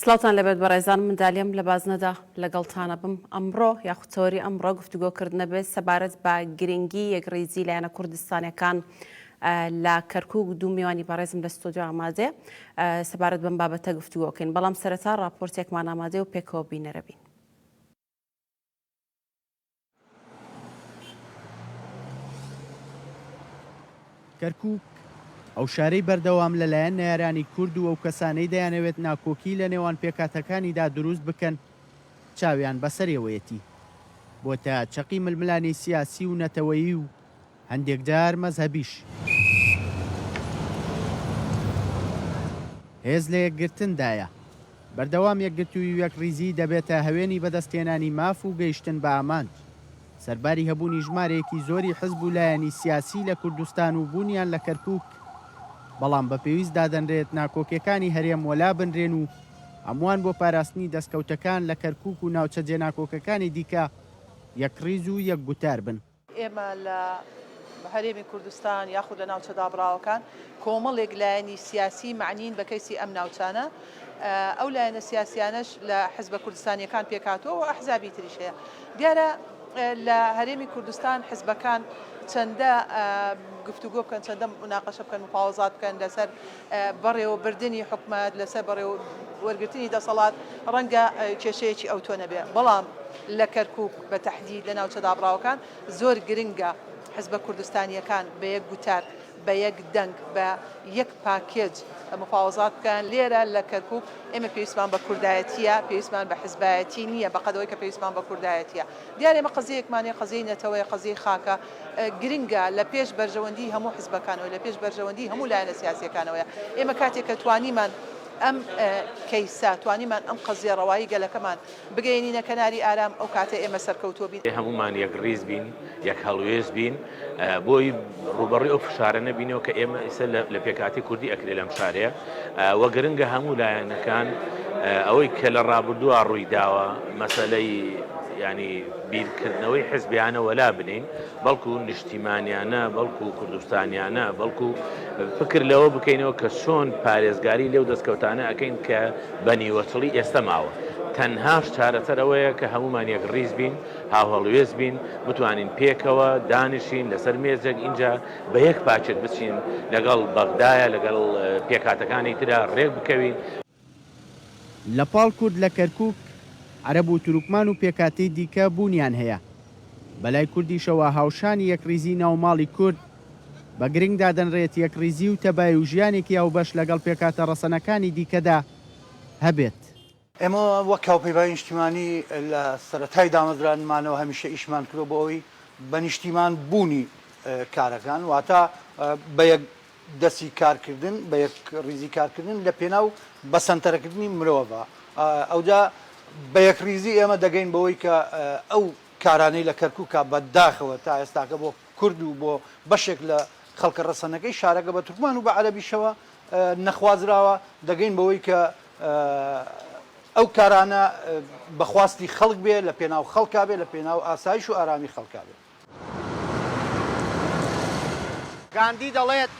سڵاوتان لێ بێت بەڕێزان، من دالیم لە بازنەدا لەگەڵتان ئەبم. ئەمڕۆ یاخود تەوەری ئەمڕۆ گفتوگۆ کردنە بێت سەبارەت بە گرنگی یەکڕیزی لایەنە کوردستانیەکان لە کەرکوک دوو میوانی بەڕێزم لە ستۆدیۆ ئامادەیە سەبارەت بەم بابەتە گفتوگۆ کەین بەڵام سەرەتا ڕاپۆرتێکمان ئامادەیە و پێکەوە بینەرە بین. کەرکووک، ئەو شارەی بەردەوام لەلایەن نەیارانی کورد و ئەو کەسانەی دەیانەوێت ناکۆکی لە نێوان پێکهاتەکانیدا دروست بکەن، چاویان بەسەرێوەیەتی، بۆتە چەقی ململانێی سیاسی و نەتەوەیی و هەندێک جار مەزهەبیش هێز لە یەکگرتن دایە. بەردەوام یەکگرتووی و یەکڕیزیی دەبێتە هەوێنی بەدەستهێنانی ماف و گەیشتن بە ئامانج. سەرباری هەبوونی ژمارەیەکی زۆری حزب و لایەنی سیاسی لە کوردستان و بوونیان لە کەرکووک، بەڵام بە پێویست دادەنرێت ناکۆکیەکانی هەرێم وەلا بنرێن و هەمووان بۆ پاراستنی دەستکەوتەکان لە کەرکووک و ناوچە جێناکۆکەکانی دیکە یەکڕیز و یەکگوتار بن. ئێمە لە هەرێمی کوردستان یاخود لە ناوچە دابڕاوەکان کۆمەڵێک لایەنی سیاسی مەعنین بە کەیسی ئەم ناوچانە، ئەو لایەنە سیاسیانەش لە حزبە کوردستانیەکان پێکهاتووە و ئەحزابی تریش هەیە. دیارە لە هەرێمی کوردستان حزبەکان چەندە گفتوگۆ بکەن، چەندە مناقەشە بکەن، مفاوەزات بکەن لەسەر بەڕێوەبردنی حکومەت لەسەر بەڕێوەوەرگرتنی دەسەڵات ڕەنگە کێشەیەکی ئەوتۆ نەبێت، بەڵام لە کەرکوک بە تەحدید لە ناوچە دابڕاوەکان زۆر گرنگە حزبە کوردستانییەکان بە یەک گوتار، بە یەک دەنگ، بە یەک پاکێج مفاوەزات بکەن، لێرە لە کەرکوک ئێمە پێویستمان بە کوردایەتییە، پێویستمان بە حزبایەتی نییە، بەقەد ئەوەی کە پێویستمان بە کوردایەتییە. دیارە ئێمە قەزیەیەکمان هەیە، قەزیەی نەتەوەیە، قەزیەی خاکە، گرنگە لە پێش بەرژەوەندی هەموو حزبەکانەوە لە پێش بەرژەوەندی هەموو لایەنە سیاسیەکانەوەیە ئێمە کاتێک کە توانیمان ئەم کەیسە توانیمان ئەم قەزیە ڕەوایی گەلەکەمان بگەینینە کەناری ئارام ئەو کاتە ئێمە سەرکەوتووە بین. بێ هەموومان یەکڕیز بین یەک هەڵوێست بین بۆی ڕووبەڕوی ئەو فشارە نەبینەوە کە ئێمە ئیسە لە پێکاتی کوردی ئەکرێ لەم شارەیە وە گرنگە هەموو لایەنەکان ئەوەی کە لە ڕابردووە ڕووی داوە مەسەلەی ینی بیرکردنەوەی حزبیانە وەلا بنێین بەڵکو نیشتیمانیانە بەڵکو کوردستانیانە بەڵکو فکر لەوە بکەینەوە کە چۆن پارێزگاری لەو دەستکەوتانە ئەەکەین کە بە نیوەچڵی ئێستا ماوە تەنهاش چارەسەرەوەیە کە هەمومان یەک ڕیز بین هاوهەڵوێز بین بتوانین پێکەوە دانیشین لەسەر مێزێک اینجا بە یەک پاچێت بچین لەگەڵ بەغدایە لەگەڵ پێکاتەکانی تررا ڕێک بکەوین لە پاڵ کورد لە کەرکووک، عەرەب و تورکمان و پێکهاتەی دیکە بوونیان هەیە. بە لای کوردیشەوە هاوشانی یەکڕیزی ناو ماڵی کورد، بە گرنگ دادەنرێت یەکڕیزی و تەبای و ژیانێکی هاوبەش لەگەڵ پێکهاتە ڕەسەنەکانی دیکەدا هەبێت. ئێمە وەک هاوپەیمانی نیشتیمانی لە سەرەتای دامەزرانمانەوە هەمیشە ئیشمان کردووە بۆ ئەوەی بە نیشتیمان بوونی کارەکان، واتە بە یەک دەستی کارکردن بە یەک ڕیزی کارکردن لە پێناو بەسەنتەرەکردنی مرۆڤە ئەوجا بە یەک ڕیزی ئێمە دەگەین بەوەی کە ئەو کارانەی لە کەرکوکە بە داخەوە تا ئێستاکە بۆ کورد و بۆ بەشێک لە خەڵکە ڕەسەنەکەی شارەکە بە تورکمان و بە عەرەبیشەوە نەخوازراوە دەگەین بەوەی کە ئەو کارانە بەخواستی خەڵک بێ لە پێناو خەڵکا بێ لە پێناو ئاسایش و ئارامی خەڵکا بێ. گاندی دەڵێت،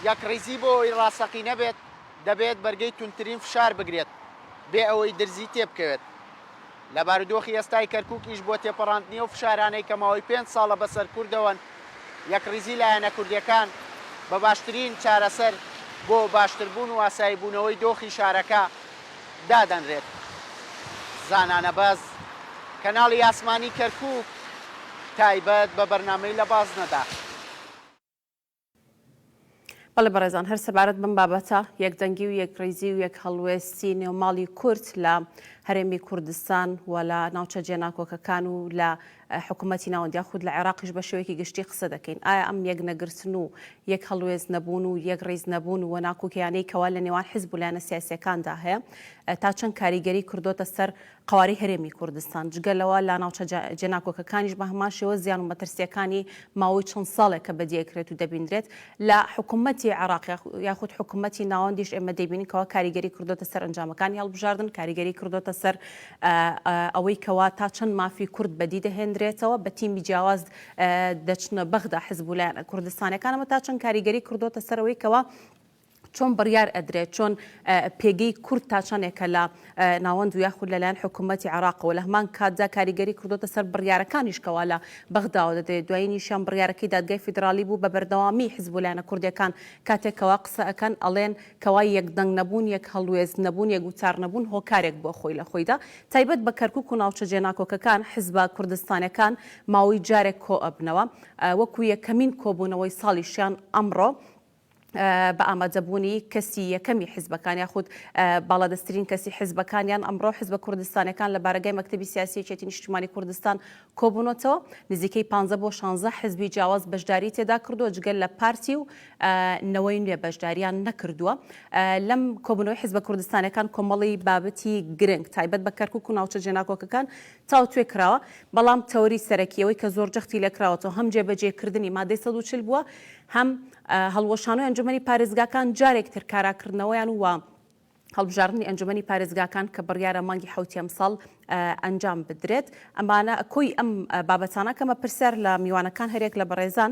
یەکڕیزی بۆ ئەوەی ڕاستەقینە بێت، دەبێت بەرگەی توندترین فشار بگرێت بێ ئەوەی درزی تێبکەوێت. لە بارودۆخی ئێستای کەرکووک ئیش بۆ تێپەڕاندنی ئەو فشارانەی کە ماوەی پێنج ساڵە بەسەر کوردەوەن، یەکڕیزی لایەنە کوردییەکان بە باشترین چارەسەر بۆ باشتربوون و ئاساییبوونەوەی دۆخی شارەکە، دادەنرێت. زانانە باز کەناڵی ئاسمانی کەرکوک تایبەت بە بەرنامەی لە بازنەدا. بەڵێ بەڕێزان هەر سەبارەت بەم بابەتە یەکدەنگی و یەکڕیزی و یەک هەڵوێستی نێو ماڵی کورد لە هەرێمی کوردستان و لە ناوچە جێناکۆکەکان و لە حکومەتی ناوەند یا خود لە عێراقیش بە شێوەیەکی گشتی قسە دەکەین، ئایا ئەم یەک نەگرتن و یەک هەڵوێست نەبوون و یەک ڕیز نەبوون و ناکۆکیانەی کەوا لە نێوان حیزب و لایەنە سیاسییەکاندا هەیە تا چەند کاریگەری کردۆتە سەر قەوارەی هەرێمی کوردستان؟ جگە لەوە لە ناوچە جێناکۆکەکانیش بە هەمان شێوە زیان و مەترسییەکانی ماوەی چەند ساڵێکە بەدی ئەکرێت و دەبینرێت لە حکومەتی عێراق یاخود حکومەتی ناوەندیش ئێمە دەیبینین کەوا کاریگەری کردۆتە سەر ئەنجامەکانی هەڵبژاردن، کاریگەری کردۆتە سەر ئەوەی کەوا تا چەند مافی کورد بەدی دەهێندرێتەوە، بە تیمی جیاواز دەچنە بەغدا حزب و لایەنە کوردستانیەکان، ئەمە تا چەند کاریگەری کردۆتە سەر ئەوەی کەوا چۆن بڕیار ئەدرێت، چۆن پێگەی کورد تا چەندێکە لە. ناوەند و یاخود لەلایەن حکوومەتی عێراقەوە، لە هەمان کاتدا کاریگەری کردۆتە سەر بڕیارەکانیش کەوا لە بەغداوە دەدرێت، دوایینیشیان بڕیارەکەی دادگای فیدراڵی بوو بە بەردەوامی حزب و لایەنە کوردییەکان کاتێک کەوا قسە ئەکەن ئەڵێن کەوا یەک دەنگ نەبوون یەک هەڵوێست نەبوون یەک وتار نەبوون هۆکارێک بووە خۆی لە خۆیدا تایبەت بە کەرکوک و ناوچە جێناکۆکەکان حزبە کوردستانەکان ماوەی جارێک کۆئەبنەوە وەکو یەکەمین کۆبوونەوەی ساڵیشیان ئەمڕۆ بە ئامادەبوونی کەسی یەکەمی حیزبەکان یاخود باڵادەستترین کەسی حیزبەکانیان ئەمڕۆ حیزبە کوردستانەکان لە بارەگای مەکتتەبی سیاسی یەکێتی نیشتمانی کوردستان کۆبوونەتەوە نزیکەی 15 بۆ 16 حزبی جیاواز بەشداری تێدا کردووە جگەل لە پارتی و نەوەی نوێ بەشداریان نەکردووە لەم کۆبنەوەی حزبە کوردستانەکان کۆمەڵی بابەتی گرنگ تایبەت بە کەرکک و ناوچە جێناکۆکەکان تاوتوێ کراوە، بەڵام تەوەری سەرەکی ئەوەی کە زۆر جەختی لێ کراوەتەوە هەم جێبەجێکردنی مادەی سەد و چل بووە، هەم هەڵوەشانەوەی ئەنجومەنی پارێزگاکان جارێک تر کاراکردنەوەیان و هەڵبژاردنی ئەنجومەنی پارێزگاکان کە بڕیارە مانگی حەوتی ئەمساڵ ئەنجام بدرێت. ئەمانە کۆی ئەم بابەتانە کە مەپرسیار لە میوانەکان هەریەک لە بەڕێزان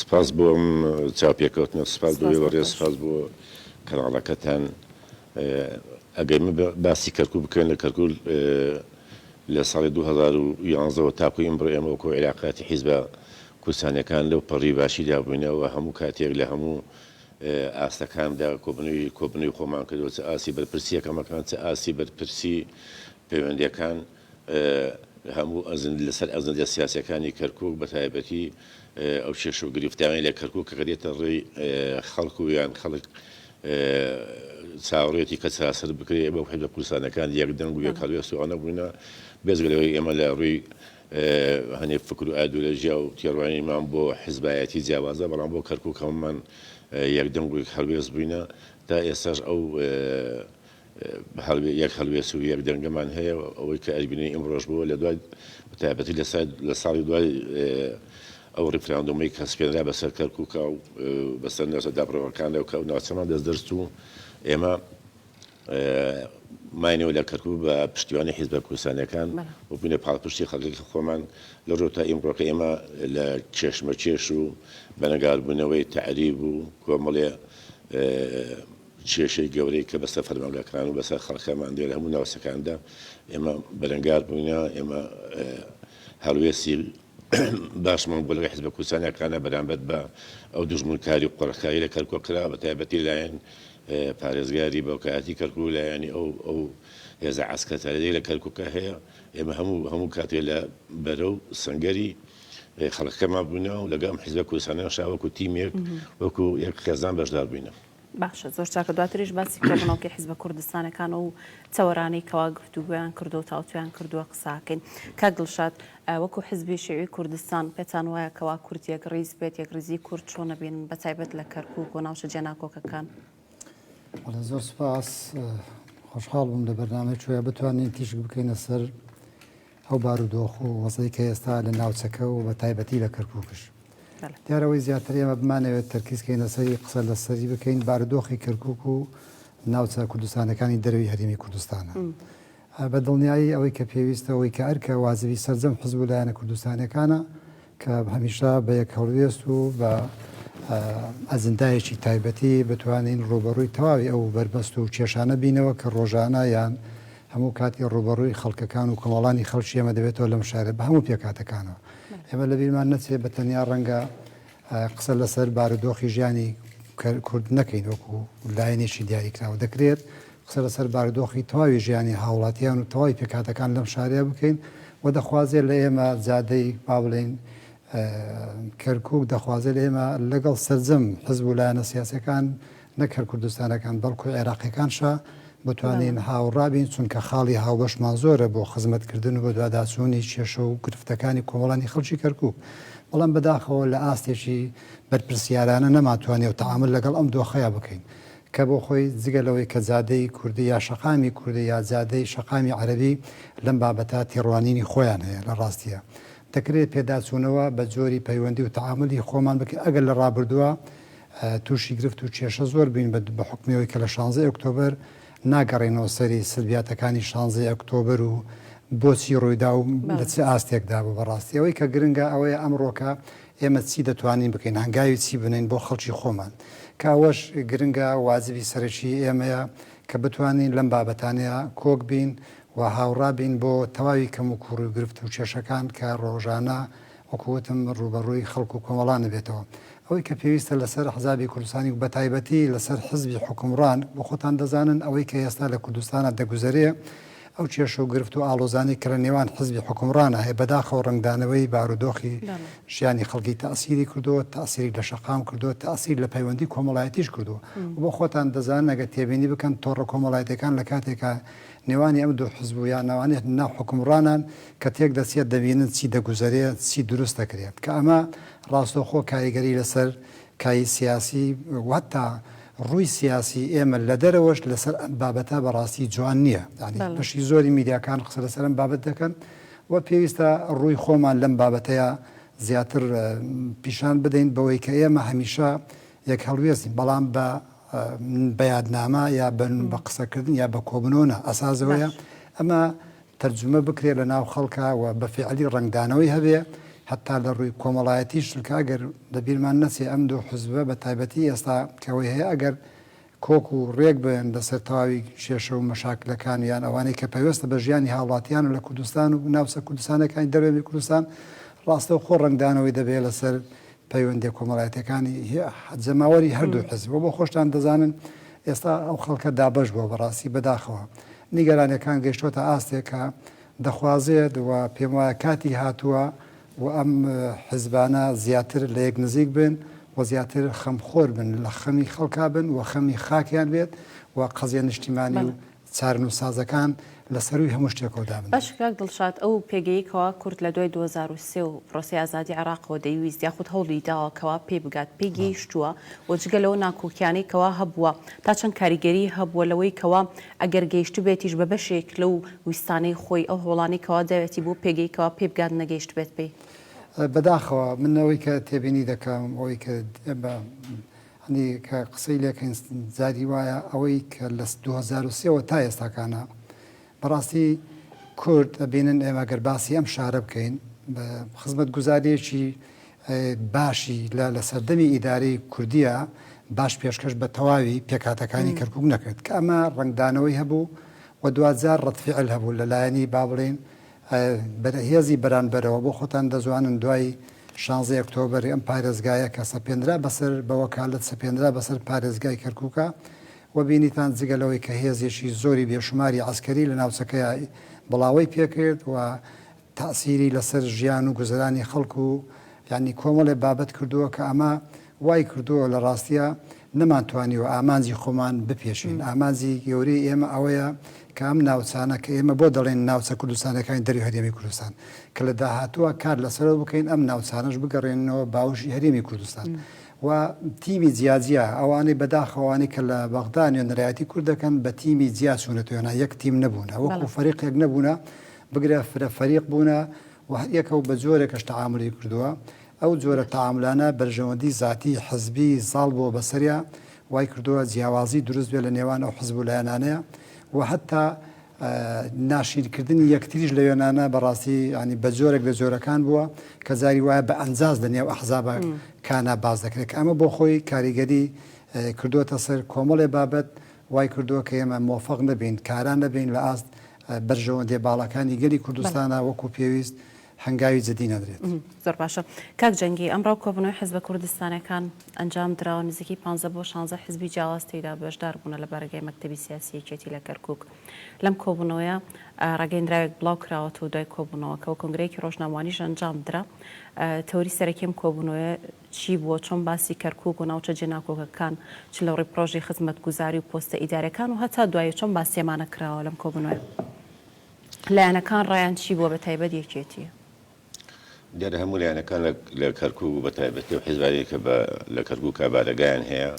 سپاس بۆ ئەم چاوپێکەوتنە سپاس بۆ ئێوە ڕێز سپاس بۆ کەناڵەکەتان ئەگەر من باسی کەرکوک بکەن لە کەرکول لە ساڵی 2011ەوە تاکو ئیمڕۆ ئێمە وەکۆ عێراقاتی حیزبە کوردستانەکان لەو پەڕی باشیدا بووینەوە هەموو کاتێک لە هەموو ئاستەکاندا کۆبنەوەی کۆبنەوەی خۆمان کردەوە چ ئاسی بەرپرسی یەکەمەکان چ ئاسی بەرپرسی پەیوەندیەکان هەموو ئەزن لەسەر ئەزنجە سیاسیەکانی کەرکوک بەتایبەتی ئەو کێشە و گرفتانەی لە کەرکوک کە دێتە ڕێی خەڵک و یان خەڵک چاوەڕێتی کە چارەسەر بکرێت بەو حزبە کوردستانەکان یەک دەنگ و یەک هەڵوێست و ئەوانە بووینە بێجگە لەوەی ئێمە لە ڕووی هەنێ فکر و ئایدۆلۆژیا و تێڕوانینمان بۆ حزبایەتی جیاوازە بەڵام بۆ کەرکوک هەموومان یەک دەنگ و یەک هەڵوێست بووینە تا ئێستاش ئەو یەک هەڵوێست و یەک دەنگەمان هەیە و ئەوەی کە ئەیبینین ئیمڕۆش بووە لە دوای بەتایبەتی لە سای لە ساڵی دوای ئەو ڕیفراندۆمەی کە سپێنرا بەسەر کەرکووکا و بەسەر ناوچە دابڕەوەکاندا و کە ئەو ناوچەمان دەست دەرست و ئێمە ماینەوە لە کەرکووک بە پشتیوانی حیزبە کوردستانیەکان بەڵێ. و بووینە پاڵپشتی خەڵکێکی خۆمان لە ڕۆ تا ئیمڕۆکە ئێمە لە کێشمەکێش و بەنەگاربوونەوەی تەعریب و کۆمەڵێ ئێ، کێشەی گەورەی کە بەسەر فەرمانگەکان و بەسەر خەڵکەمان لێرە هەموو ناوچەکاندا ئێمە بەرەنگار بووینە، ئێمە هەڵوێستی باشمان بۆ لەگەڵ حزبە کوردستانیەکانە بەرامبەر بە ئەو دوژمنکاری و قۆرخکاری لە کەرکوک کرا بە تایبەتی لایەن پارێزگاری باوکایەتی کەرکوک و لایەنی ئەو ئەو هێزە عەسکەتەرەی لە کەرکوکە هەیە ئێمە هەموو هەموو کاتێ لە بەرە و سەنگەری خەڵکەمان بووینە و لەگەڵ ئەم حزبە کوردستانیان شا وەکو تیمێک وەکو یەک خێزان بەشدار بووینە. باشە زۆر چاکە دواتریش باسی کۆبنەوکی حیزبە کوردستانەکان و چاوەرانی کەوا گفتوگویان کردو و تاوتویان کردووە قساکەین کاک دڵشاد وەکو حزبی شێوی کوردستان پێتان وایە کەوا کورد یەک ڕیز بێت یەک ڕیزی کورد چۆن نەبین بە تایبەت لە کەرکک و ناوچە جێناکۆکەکان زۆر سپاس خۆشحاڵ بووم لە بەرنامەی چۆە بتوانین تیشک بکەینە سەر ئەو بارودۆخ و وەزعەی کە ئێستا لە ناوچەکە و بە تایبەتی لە کەرکوکش دیارە ئەوەی زیاتر ئێمە بمانەوێت تەرکیز کەین لەسەری قسە لەسەری بکەین بارودۆخی کەرکوک و ناوچە کوردستانەکانی دەروی هەرێمی کوردستانە بە دڵنیایی ئەوەی کە پێویستە ئەوەی کە ئەرکە وازبی سەرجەم حزب و لایەنە کوردستانەکانە کە هەمیشە بە یەک هەڵوێست و بە ئەجندایەکی تایبەتی بتوانین ڕووبەڕووی تەواوی ئەو بەربەست و کێشانە بینەوە کە ڕۆژانە یان هەموو کاتی ڕووبەڕووی خەڵکەکان و کۆمەڵانی خەڵکی ئێمە دەبێتەوە لەم شارە بە هەموو پێکاتەکانەوە ئێمە لە بیرمان نەچێ بە تەنیا ڕەنگە قسە لەسەر بارودۆخی ژیانی کورد نەکەین وەکو لایەنێکی دیاریکراوە دەکرێت قسە لەسەر باردۆخی تەواوی ژیانی هاوڵاتیان و تەواوی پێکهاتەکان لەم شارەیا بکەین و دەخوازێ لە ئێمە جادەی با بڵێین کەرکوک دەخوازێ لە ئێمە لەگەڵ سەرجەم حزب و لایەنە سیاسەکان نەک هەر کوردستانەکان بەڵکو عێراقیەکان شا بتوانین هاوڕابین چونکە خاڵی هاوبەشمان زۆرە بۆ خزمەتکردن و بەدواداچوونی کێشە و گرفتەکانی کۆمەڵانی خەڵکی کەرکوک بەڵام بەداخەوە لە ئاستێکی بەرپرسیارانە نەماتوانێ و تەعامل لەگەڵ ئەم دۆخەیە بکەین کە بۆ خۆی جگە لەوەی کە جادەی کوردی یا شەقامی کوردی یا جادەی شەقامی عەرەبی لەم بابەتە تێڕوانینی خۆیان هەیە لە ڕاستیە دەکرێ پێداچوونەوە بە جۆری پەیوەندی و تەعامولی خۆمان بکەین ئەگەر لە ڕابردووە تووشی گرفت و کێشە زۆر بووین بە بە حوکمی ئەوەی کە لە شانزەی ئۆکتۆبەر ناگەڕێینەوە سەری سلبیاتەکانی شانزەی ئۆکتۆبەر و بۆچی ڕوویدا و لە چ ئاستێکدا بوو بە ڕاستی ئەوەی کە گرنگە ئەوەیە ئەمڕۆکە ئێمە چی دەتوانین بکەین، هەنگاوی چی بنێین بۆ خەڵکی خۆمان، کە ئەوەش گرنگە واجبی سەرەکیی ئێمەیە کە بتوانین لەم بابەتانەیا کۆک بین و هاوڕا بین بۆ تەواوی کەموکووڕی و گرفت و کێشەکان کە ڕۆژانە وەکوو وتم ڕووبەڕووی خەڵک و کۆمەڵان ئەبێتەوە. ئەوەی کە پێویستە لەسەر ئەحزابی کوردستانی و بەتایبەتی لەسەر حزبی حوکمڕان، وە خۆتان دەزانن ئەوەی کە ئێستا لە کوردستانا دەگوزەرێ، ئەو کێشە و گرفت و ئاڵۆزانەی کە لە نێوان حزبی حوکمڕانا هەیە بەداخەوە ڕەنگدانەوەی بارودۆخی ژیانی خەڵکی تەئسیری کردووە، تەئسیری لە شەقام کردووە، تەئسیر لە پەیوەندی کۆمەڵایەتیش کردووە و بۆ خۆتان دەزانن ئەگەر تێبینی بکەن تۆڕە کۆمەڵایەتیەکان لە کاتێکا نێوانی ئەم دوو حزب و یان ئەوانەی ناو حوکمڕانان کە تێک دەچێت دەبینن چی دەگوزەرێ چی دروست دەکرێ کە ئەمە ڕاستەوخۆ کاریگەری لەسەر کای سیاسی و هەتا ڕووی سیاسی ئێمە لە دەرەوەش لەسەر ئەم بابەتە بەڕاستی جوان نییە یانی بەشی زۆری میدیاکان قسە لەسەر ئەم بابەت دەکەن و پێویستە ڕووی خۆمان لەم بابەتەیە زیاتر پیشان بدەین بەوەی کە ئێمە هەمیشە یەک هەڵوێستین بەڵام بە بەیادنامە یا بە قسەکردن یا بە کۆبنەوە ئەسازەوەیە ئەمە تەرجومە بکرێ لە ناو خەڵکا و بە فیعلی ڕەنگدانەوەی هەبێ هەتا لە ڕووی کۆمەڵایەتیش چونکە ئەگەر لە بیرمان نەچێ ئەم دوو حزبە بە تایبەتی ئێستا کە ئەوەی هەیە ئەگەر کۆک و ڕێک بن لە سەر تەواوی کێشە و مەشاکلەکان و یان ئەوانەی کە پەیوەستە بە ژیانی هاوڵاتیان و لە کوردستان و ناوچە کوردستانەکانی دەرەوەی کوردستان ڕاستەوخۆ ڕەنگدانەوەی دەبێ لە سەر پەیوەندیە کۆمەڵایەتیەکانی جەماوەری هەردوو حزب و بۆ خۆشتان دەزانن ئێستا ئەو خەڵکە دابەش بووە بەڕاستی بەداخەوە نیگەرانیەکان گەشتۆتە ئاستێک کە دەخوازێت و پێم وایە کاتی هاتووە و ئەم حزبانە زیاتر لە یەک نزیک بن و زیاتر خەمخۆر بن لە خەمی خەڵکا بن و خەمی خاکیان بێت و قەزیە نیشتیمانی و چارەنووسسازەکان لە سەرووی هەموو شتێکەوە دابنرێن. باشە کاک دڵشاد ئەو پێگەیەی کەوا کورد لە دوای دوو هەزار و سێ و پرۆسەی ئازادی عێراقەوە دەیویست یاخود هەوڵی داوە کەوا پێی بگات پێی گەیشتووە و جگە لەوە ناکۆکیانەی کەوا هەبووە تا چەند کاریگەری هەبووە لەوەی کەوا ئەگەر گەیشتبێتیش بە بەشێک لەو ویستانەی خۆی ئەو هەوڵانەی کەوا داوێتی بۆ پێگەی کەوا پێی بگات نەگەیشتبێت پێی؟ بەداخەوە من ئەوەی کە تێبینی دەکەم ئەوەی کە هەندێ کە قسەی لێکەین زادی وایە ئەوەی کە لە دوو هەزار و سێ وە تا ئێستاکانە بەڕاستی کورد ئەبینن ئێمە گەر باسی ئەم شارە بکەین بە خزمەت گوزاریەکی باشی لە لە سەردەمی ئیدارەی کوردیە باش پێشکەش بە تەواوی پێکاتەکانی کەرکک نەکرد کە ئەمە ڕنگدانەوەی هەبوو و دوجار ڕەتفعل هەبوو لە لایەنی با بڵین بەرەهێزی بەرانبەرەوە بۆ خۆتان دەزوانن دوای شانزەی ئۆکتۆبەر ئەم پارێزگایە کە سەپێنرا بەسەر بە وەکالەت سەپێنرا بەسەر پارێزگای کەرکوکا و بینیتان جگە لەوەی کە هێزێکی زۆری بێشوماری عەسکەری لە ناوچەکەیا بڵاوەی پێکرد و تاسیری لەسەر ژیان و گوزەرانی خەڵک و یانی کۆمەڵێ بابەت کردووە کە ئەمە وای کردووە لە ڕاستیا نەمانتوانیوە ئامانجی خۆمان بپێشین، ئامانجی گەورەی ئێمە ئەوەیە کە ئەم ناوچانە کە ئێمە بۆ دەڵێین ناوچە کوردستانیەکانی دەرەوی هەرێمی کوردستان کە لە داهاتووە کار لەسەرەوە بکەین ئەم ناوچانەش بگەڕێننەوە باوشی هەرێمی کوردستان و تیمی جیاجیا ئەوانەی بەداخەوانی کە لە بەغدا نوێنەرایەتی کورد دەکەن بە تیمی جیا چوونەتوێنا یەک تیم نەبوونە وەکو فەریقێک نەبوونە بگرە فرە فەریق بوونە و هەریەکە و بە جۆرێکەش تەعامولی کردووە، ئەو جۆرە تەعامولانە بەرژەوەندی زاتی، حزبی، زاڵ بووە بەسەریا، وای کردووە جیاوازی دروست بێت لە نێوان ئەو حزب و لایەنانەیا و هەتا ناشیرین کردنی یەکتریش لە وێنانە بە ڕاستی یانی بە جۆرێک لە جۆرەکان بووە کە جاری وایە بە ئەنجاز لە نێو ئەحزابە کانا باس دەکرێت کە ئەمە بۆ خۆی کاریگەری کردووەتە سەر کۆمەڵێ بابەت وای کردووە کە ئێمە مۆفەق نەبین کارا نەبین لە ئاست بەرژەوەندیە باڵاکانی گەلی کوردستانە وەکو پێویست هەنگاوی جدی نەدرێت. زۆر باشە کاک جەنگی، ئەمڕۆ کۆبوونەوەی حزبە کوردستانەکان ئەنجام دراوە، نزیکەی پانزە بۆ شانزە حزبی جیاواز تێیدا بەشدار بوونە لە بارەگای مەکتەبی سیاسی یەکێتی لە کەرکوک، لەم کۆبوونەوەیە ڕاگەیندراوێک بڵاو کراوەتەوە دوای کۆبوونەوەکە و کۆنگرەیەکی ڕۆژنامەوانیش ئەنجام درا، تەوری سەرەکی ئەم کۆبوونەوەیە چی بووە، چۆن باسی کەرکووک و ناوچە جێناکۆکەکان چ لە ڕووی پڕۆژەی خزمەتگوزاری و پۆستە ئیدارییەکان و هەتا دوایی چۆن باسیێمانە کراوە لەم کۆبوونەوەیە؟ لایەنەکان ڕایان چی بووە بە تایبەت یەکێتی؟ دیارە هەموو لایەنەکان لە کەرکووک و بە تایبەتی ئەو حیزبانەی کە لە کەرکووکا بارەگایان هەیە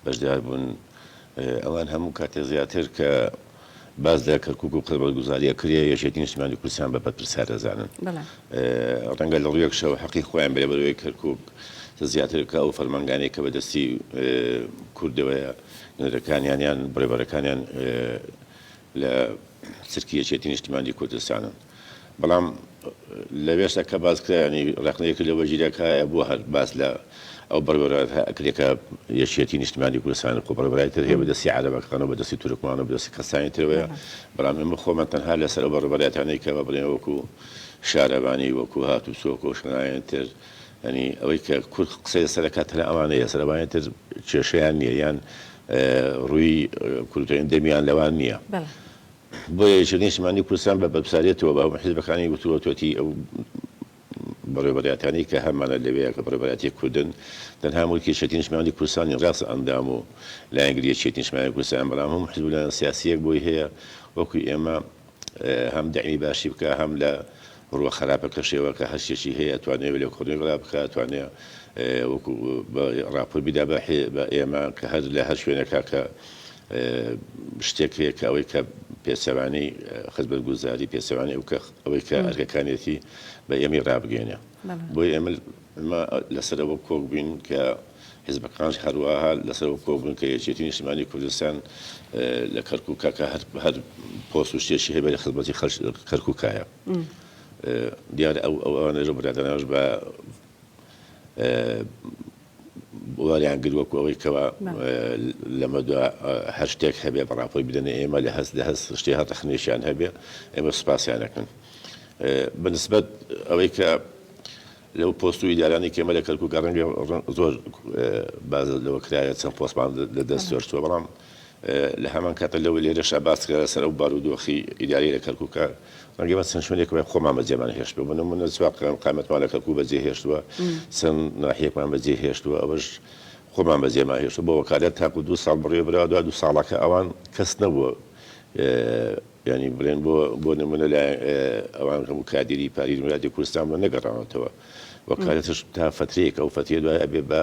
بەشدار بوون، ئەوان هەموو کاتێک زیاتر کە باس لە کەرکوک و خزمەتگوزاریە کرێ یەکێتی نیشتمانی کوردستان بە بەرپرسیار دەزانن ڕەنگە لە ڕویەک شەوە حەقی خۆیان بێ بەرەوەی کەرکوک زیاتر کە ئەو فەرمانگانەی کە بەدەستی کوردەوەیە نوێرەکانیان یان بڕێبەرەکانیان لە چرکی یەکێتی نیشتمانی کوردستانن. بەڵام لەوێش ە کە باس کرا یانی ڕەخنە ی لەوە گیرا کە ئایا بۆ هەر باس لە ئەو بەڕێوەرایەتە ئەکرێ کە یەکێتی نیشتمانی کوردستان و خۆبەڕێوەبەرای تر هەیە بە دەستی عەرەبەکان و بە دەستی تورکمان و بە دەستی کەسانی ترەوەیە بەڵام ئێمە خۆمان تەنها لە سەر ئەو بەڕێوەبەرایەتانەی کە بە بڕێ وەکو شارەوانی وەکو هاتوچۆ و شوێنانی تر یانی ئەوەی کە کورد قسەی لە سەر ئەکات تەنها ئەوانەیە لە سەر ئەوانی تر کێشەیان نییە یان ڕووی کورد و هێندە دەمیان لەوان نییە. بۆیە یەکێتی نیشتمانی کوردستان بە بەپساریەتەوە بە هەموو حیزبەکانی وتووەتەتی ئەو بەڕێوەبەراتانەی کە هەمانە لەوێ کە بەڕێوەبەراتی کوردن تەنها مولکی یەکێتی نیشتمانی کوردستانی ڕاستە ئەندام و لایەنگری یەکێتی نیشتمانی کوردستان بەڵام هەموو حیزب و لایەن سیاسیەک بۆی هەیە وەکو ئێمە هەم دەعمی باشی بکا هەم لە بڕوا خەراپەکەشێوە کە هەر شتێکی هەیە ئەتوانێ لێ کۆنەی بڵا بکا ئەتوانێ وەکو ڕاپۆرت بیدا بە ئێمە کە هەر لە هەر شوێنێکا کە شتێک هەیە کە ئەوەی کە پێچەوانەی خزمەتگوزاری، پێچەوانەی ئەو کە ئەوەی کە ئەرکەکانیەتی بە ئێمەی ڕابگەیەنێ. بۆیە ئێمە ئێمە لەسەر ئەوە کۆک بووین کە حزبەکانش هەرواها لەسەر ئەوە کۆک بوون کە یەکێتی نیشتمانی کوردستان لە کەرکووکا کە هەر هەر پۆست و شتێکی هەیە بەرە خزمەتی خەڵکی کەرکووکایە. دیارە ئەو ئەوانەش و برادەرانەش بە وەریان گرت وەکو ئەوەی کەوا لەمە دوا هەر شتێک هەبێ بە ڕاپۆی بدەنە ئێمە لە هەست لە هەست شتێ هەر ڕخنێشیان هەبێ ئێمە سوپاسیانەکەن بەنسبەت ئەوەی کە لەو پۆست و ئیدارانی کێمە لە کەرکک ڕەنگە زۆر باز لەوە کرایە چەند پۆستمان لە دەست سۆرچوە بەڵام لە هەمان کاتدا لەوە لێرەشدا باس کرا لەسەر ئەو بارودۆخی ئیداریە لە کەرکوکە، ڕەنگە ئێمە چەند شوێنێک وای خۆمان بەجێمان هێشتووە، بۆ نموونە چوار قایمقامەتمان لە کەرکوک بەجێ هێشتووە، چەند ناحیەکمان بەجێ هێشتووە، ئەوەش خۆمان بەجێمان هێشتووە، بۆ وەکالەت تاکو دوو ساڵ بڕیوە براوە، دوای دوو ساڵەکە ئەوان کەس نەبووە یانی بڵێن بۆ بۆ نموونە لە ئەوان هەموو کادیری پاری ولاتی کوردستان بووە نەگەڕاونەتەوە، وەکالەتش تا فترەیەک ئەو فترەیە دوای ئەبێ بە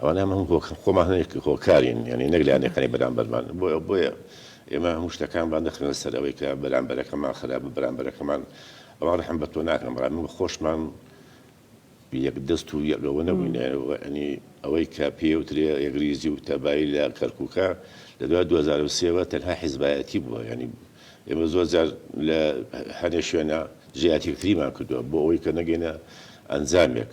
ئەوانە هەموو هۆکار خۆمان هەنێک هۆکارین یانی نەک لایەنەکانی بەرامبەرمان بۆیە بۆیە ئێمە هەموو شتەکان بان دەخرێنە سەر ئەوەی کە بەرامبەرەکەمان خراپە بەرامبەرەکەمان ئەوان ڕەحم بە تۆ ناکەن بەڵام ئێمە خۆشمان یەک دەست و یەک ئەوە نەبووینە ئەنی ئەوەی کە پێوترێ یەکریزی و تەبایی لە کەرکووکە لە دوای 2023ەوە تەنها حیزبایەتی بووە ینی ئێمە زۆر جار لە هەنێ شوێنە جیاتیکتریمان کردووە بۆ ئەوەی کە نەگەینە ئەنجامێک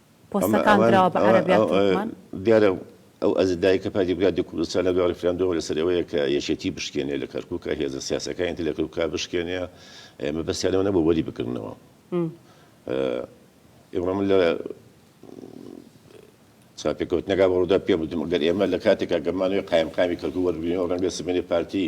پۆستەکان دراوە بە عەرەب یان تورکمان؟ دیارە ئەو ئەجندایەی کە پاری بگات دکوردستان لە دوای ڕیفراندۆمەوە لەسەر ئەوەیە کە یەکێتی بشکێنێ لە کەرکوکا هێزە سیاسەکانی تر لە کەرکوکا بشکێنێ مەبەستیان لەوە نەبوو وەری بگرنەوە ئێوە من لە چاپێکەوتنەکە بەڕوودا پێ بدم گەر ئێمە لە کاتێکا گەمانەوەی قایمقامی کەرکوک وەربگرینەوە ڕەنگە سبەینێ پارتی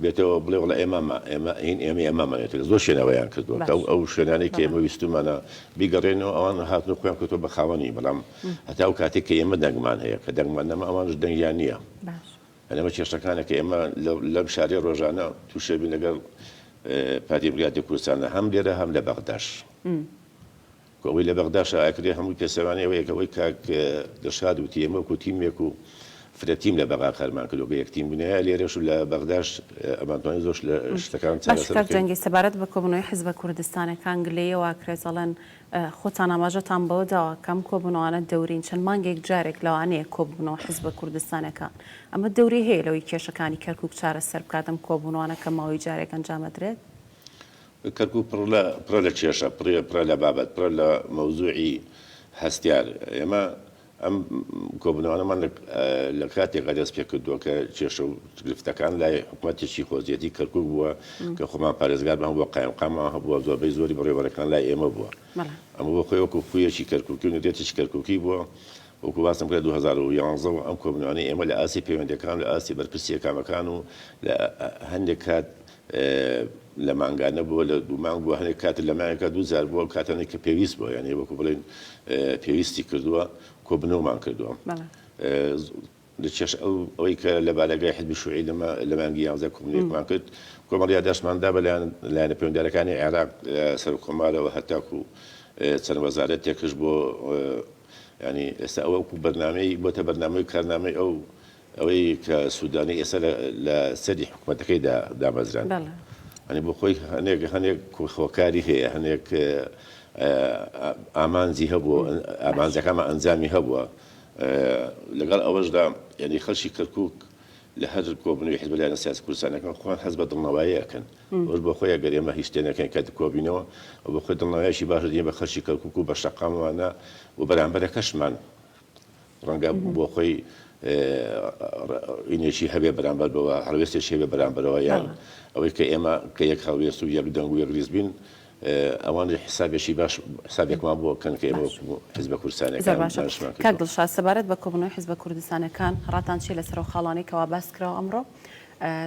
بێتەوە بڵێ وەڵا ئێمامە ئێمە هین ئێمەی ئەمامانە تر زۆر شوێنەوەیان کردووە کە باش ئەو شوێنانەی کە بەڵێ ئێمە ویستومانە بیگەڕێنەوە ئەوان هاتن و خۆیان کردووە بە خاوەنی بەڵام هەتا ئەو کاتەی کە ئێمە دەنگمان هەیە کە دەنگمان نەما ئەوانیش دەنگیان نییە باش. یانی ئەمە کێشەکانە کە ئێمە لەو لەم شارەی ڕۆژانە تووشێ بین لەگەڵ پارتی دیموکراتی کوردستانە هەم لێرە هەم لە بەغداش. کۆمەی لە بەغدا شایەکرێ هەمووی پێچەوانەی ئەوەیە کە ئەوەی کاک دڵشاد وتی ئێمە وەکو تیمێک و فرە تیم لە بەغا کارمان کردوە کە یەک تیم بوونایە لێرەش و لە بەغداش ئەمان توانی زۆرش لە شتەکان چارەسەر بکەین. باشە کاک جەنگی سەبارەت بە کۆبوونەوەی حیزبە کوردستانەکان گلەیی ئەوە ئەکرێت ئەڵێن خۆتان ئاماژەتان بەوە داوە کە ئەم کۆبوونەوانە دەورین چەند مانگێک جارێک لەوانەیە کۆببنەوە حیزبە کوردستانەکان ئەمە دەوری هەیە لەوەی کێشەکانی کەرکوک چارەسەر بکات ئەم کۆبوونەوانە کە ماوەی جارێک ئەنجامەدرێت؟ کەرکوک پڕە لە پڕە لە کێشە، پڕە پڕە لە بابەت، پڕە لە مەوزوعی هەستیار. ئێمە ئەم کۆبوونەوانەمان لە لە کاتێکا دەست پێ کردووە کە کێشە و گرفتەکان لای حکومەتێکی خۆجێتی کەرکوک بووە کە خۆمان پارێزگارمان هەبووە، قایمقاممان هەبووە، زۆربەی زۆری بەڕێوەبەرەکان لای ئێمە بووە. ئەمە بۆ خۆی وەکوو خوویەکی کەرکوکی و نیتێکی کەرکوکی بووە. وەکوو باسم کرد لە دوو هەزار و یانزە و ئەم کۆبوونەوانەی ئێمە لە ئاستی پەیوەندییەکان و لە ئاستی بەرپرسییە کامەکان و لە هەندێک کات لە مانگانە بووە لە دوو مانگ بووە هەنێک کات لە ماوێکا دوو جار بووە کاتانێک کە پێویست بووە یانێ وەکو بڵێن پێویستی کردووە کۆبنەوەمان کردووە لەچێش ئەو ئەوەی کە لە بارەگای حزبی شوعی لەمە لە مانگی یانزە کۆمنێکمان کرد کۆمەڵ یاداشماندا بەلایەن لایەنە پەیوەندارەکانی عێراق سەر کۆمارەوە هەتاکو چەند وەزارەت تێکش بۆ ینی ئێستا ئەوەکو بەرنمەی بۆتە بەرنمەی کارنامەی ئەو ئەوەی کە سودانی ئێستا لە سەری حکومەتەکەیدا دامەزراند ئەنی بۆ خۆی هەنێک هەنێک هۆکاری هەیە هەنێک ئامانجی هەبوو ئامانجەکانمە ئەنجامی هەبووە لەگەڵ ئەوەشدا یعنی خەلکی کەرکک لە هەر کۆبنەوەی حزب لایەنە سیاسی کوردستانەکان خۆیان هەست بە دڵنەوایی ئەکەن ئەوش بۆ خۆی ئەگەر ئێمە هیچ تێنەکەین کە کۆبینەوە و بۆ خۆی دڵنەوایشی باش دێ بە خەلکی کەرکک و بە شەقاموانە و بەرامبەرەکەشمان ڕەنگە بۆ خۆی ڕینێکی هەبێ بەرامبەر بەوە هەڵوێستێکی هەبێ بەرامبەرەوە یان ئەوەی کە ئێمە کە یەک هەڵوێست و یەک دەنگ و یەک ریز بین ئەوان حسابێکی باش حسابێکمان بۆ کەن کە ئێمە حزبە کوردستانەکان دڵشاد سەبارەت بە کۆبوونەوەی حزبە کوردستانەکان ڕاتان چیە لەسەر ئەو خاڵانەی کەوا باس کراوە ئەمڕۆ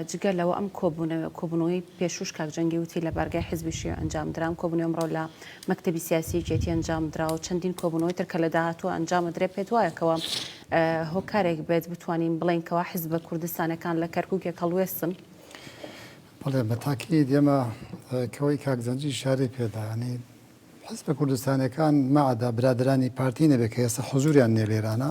جگە لەوە ئەم کۆبوونەوە کۆبوونەوەی پێشوش کاک جەنگی وتی لە بارگای حزبی شیوع ئەنجام درام کۆبوونەوە ئەمڕۆ لە مەکتەبی سیاسی یەکێتی ئەنجام درا و چەندین کۆبوونەوەی تر کە لە داهاتووە ئەنجام ئەدرێ پێت وایە کەوا هۆکارێک بێت بتوانین بڵێین کەوا حزبە کوردستانەکان لە کەرکووکێک هەڵوێستن بەڵێ بە تاکید ئێمە کەوەی کاک جەنگی شارەی پێدا یانی حیزبە کوردستانیەکان مەعەدا برادەرانی پارتی نەبێ کە ئێستا حزوریان نیە لێرانە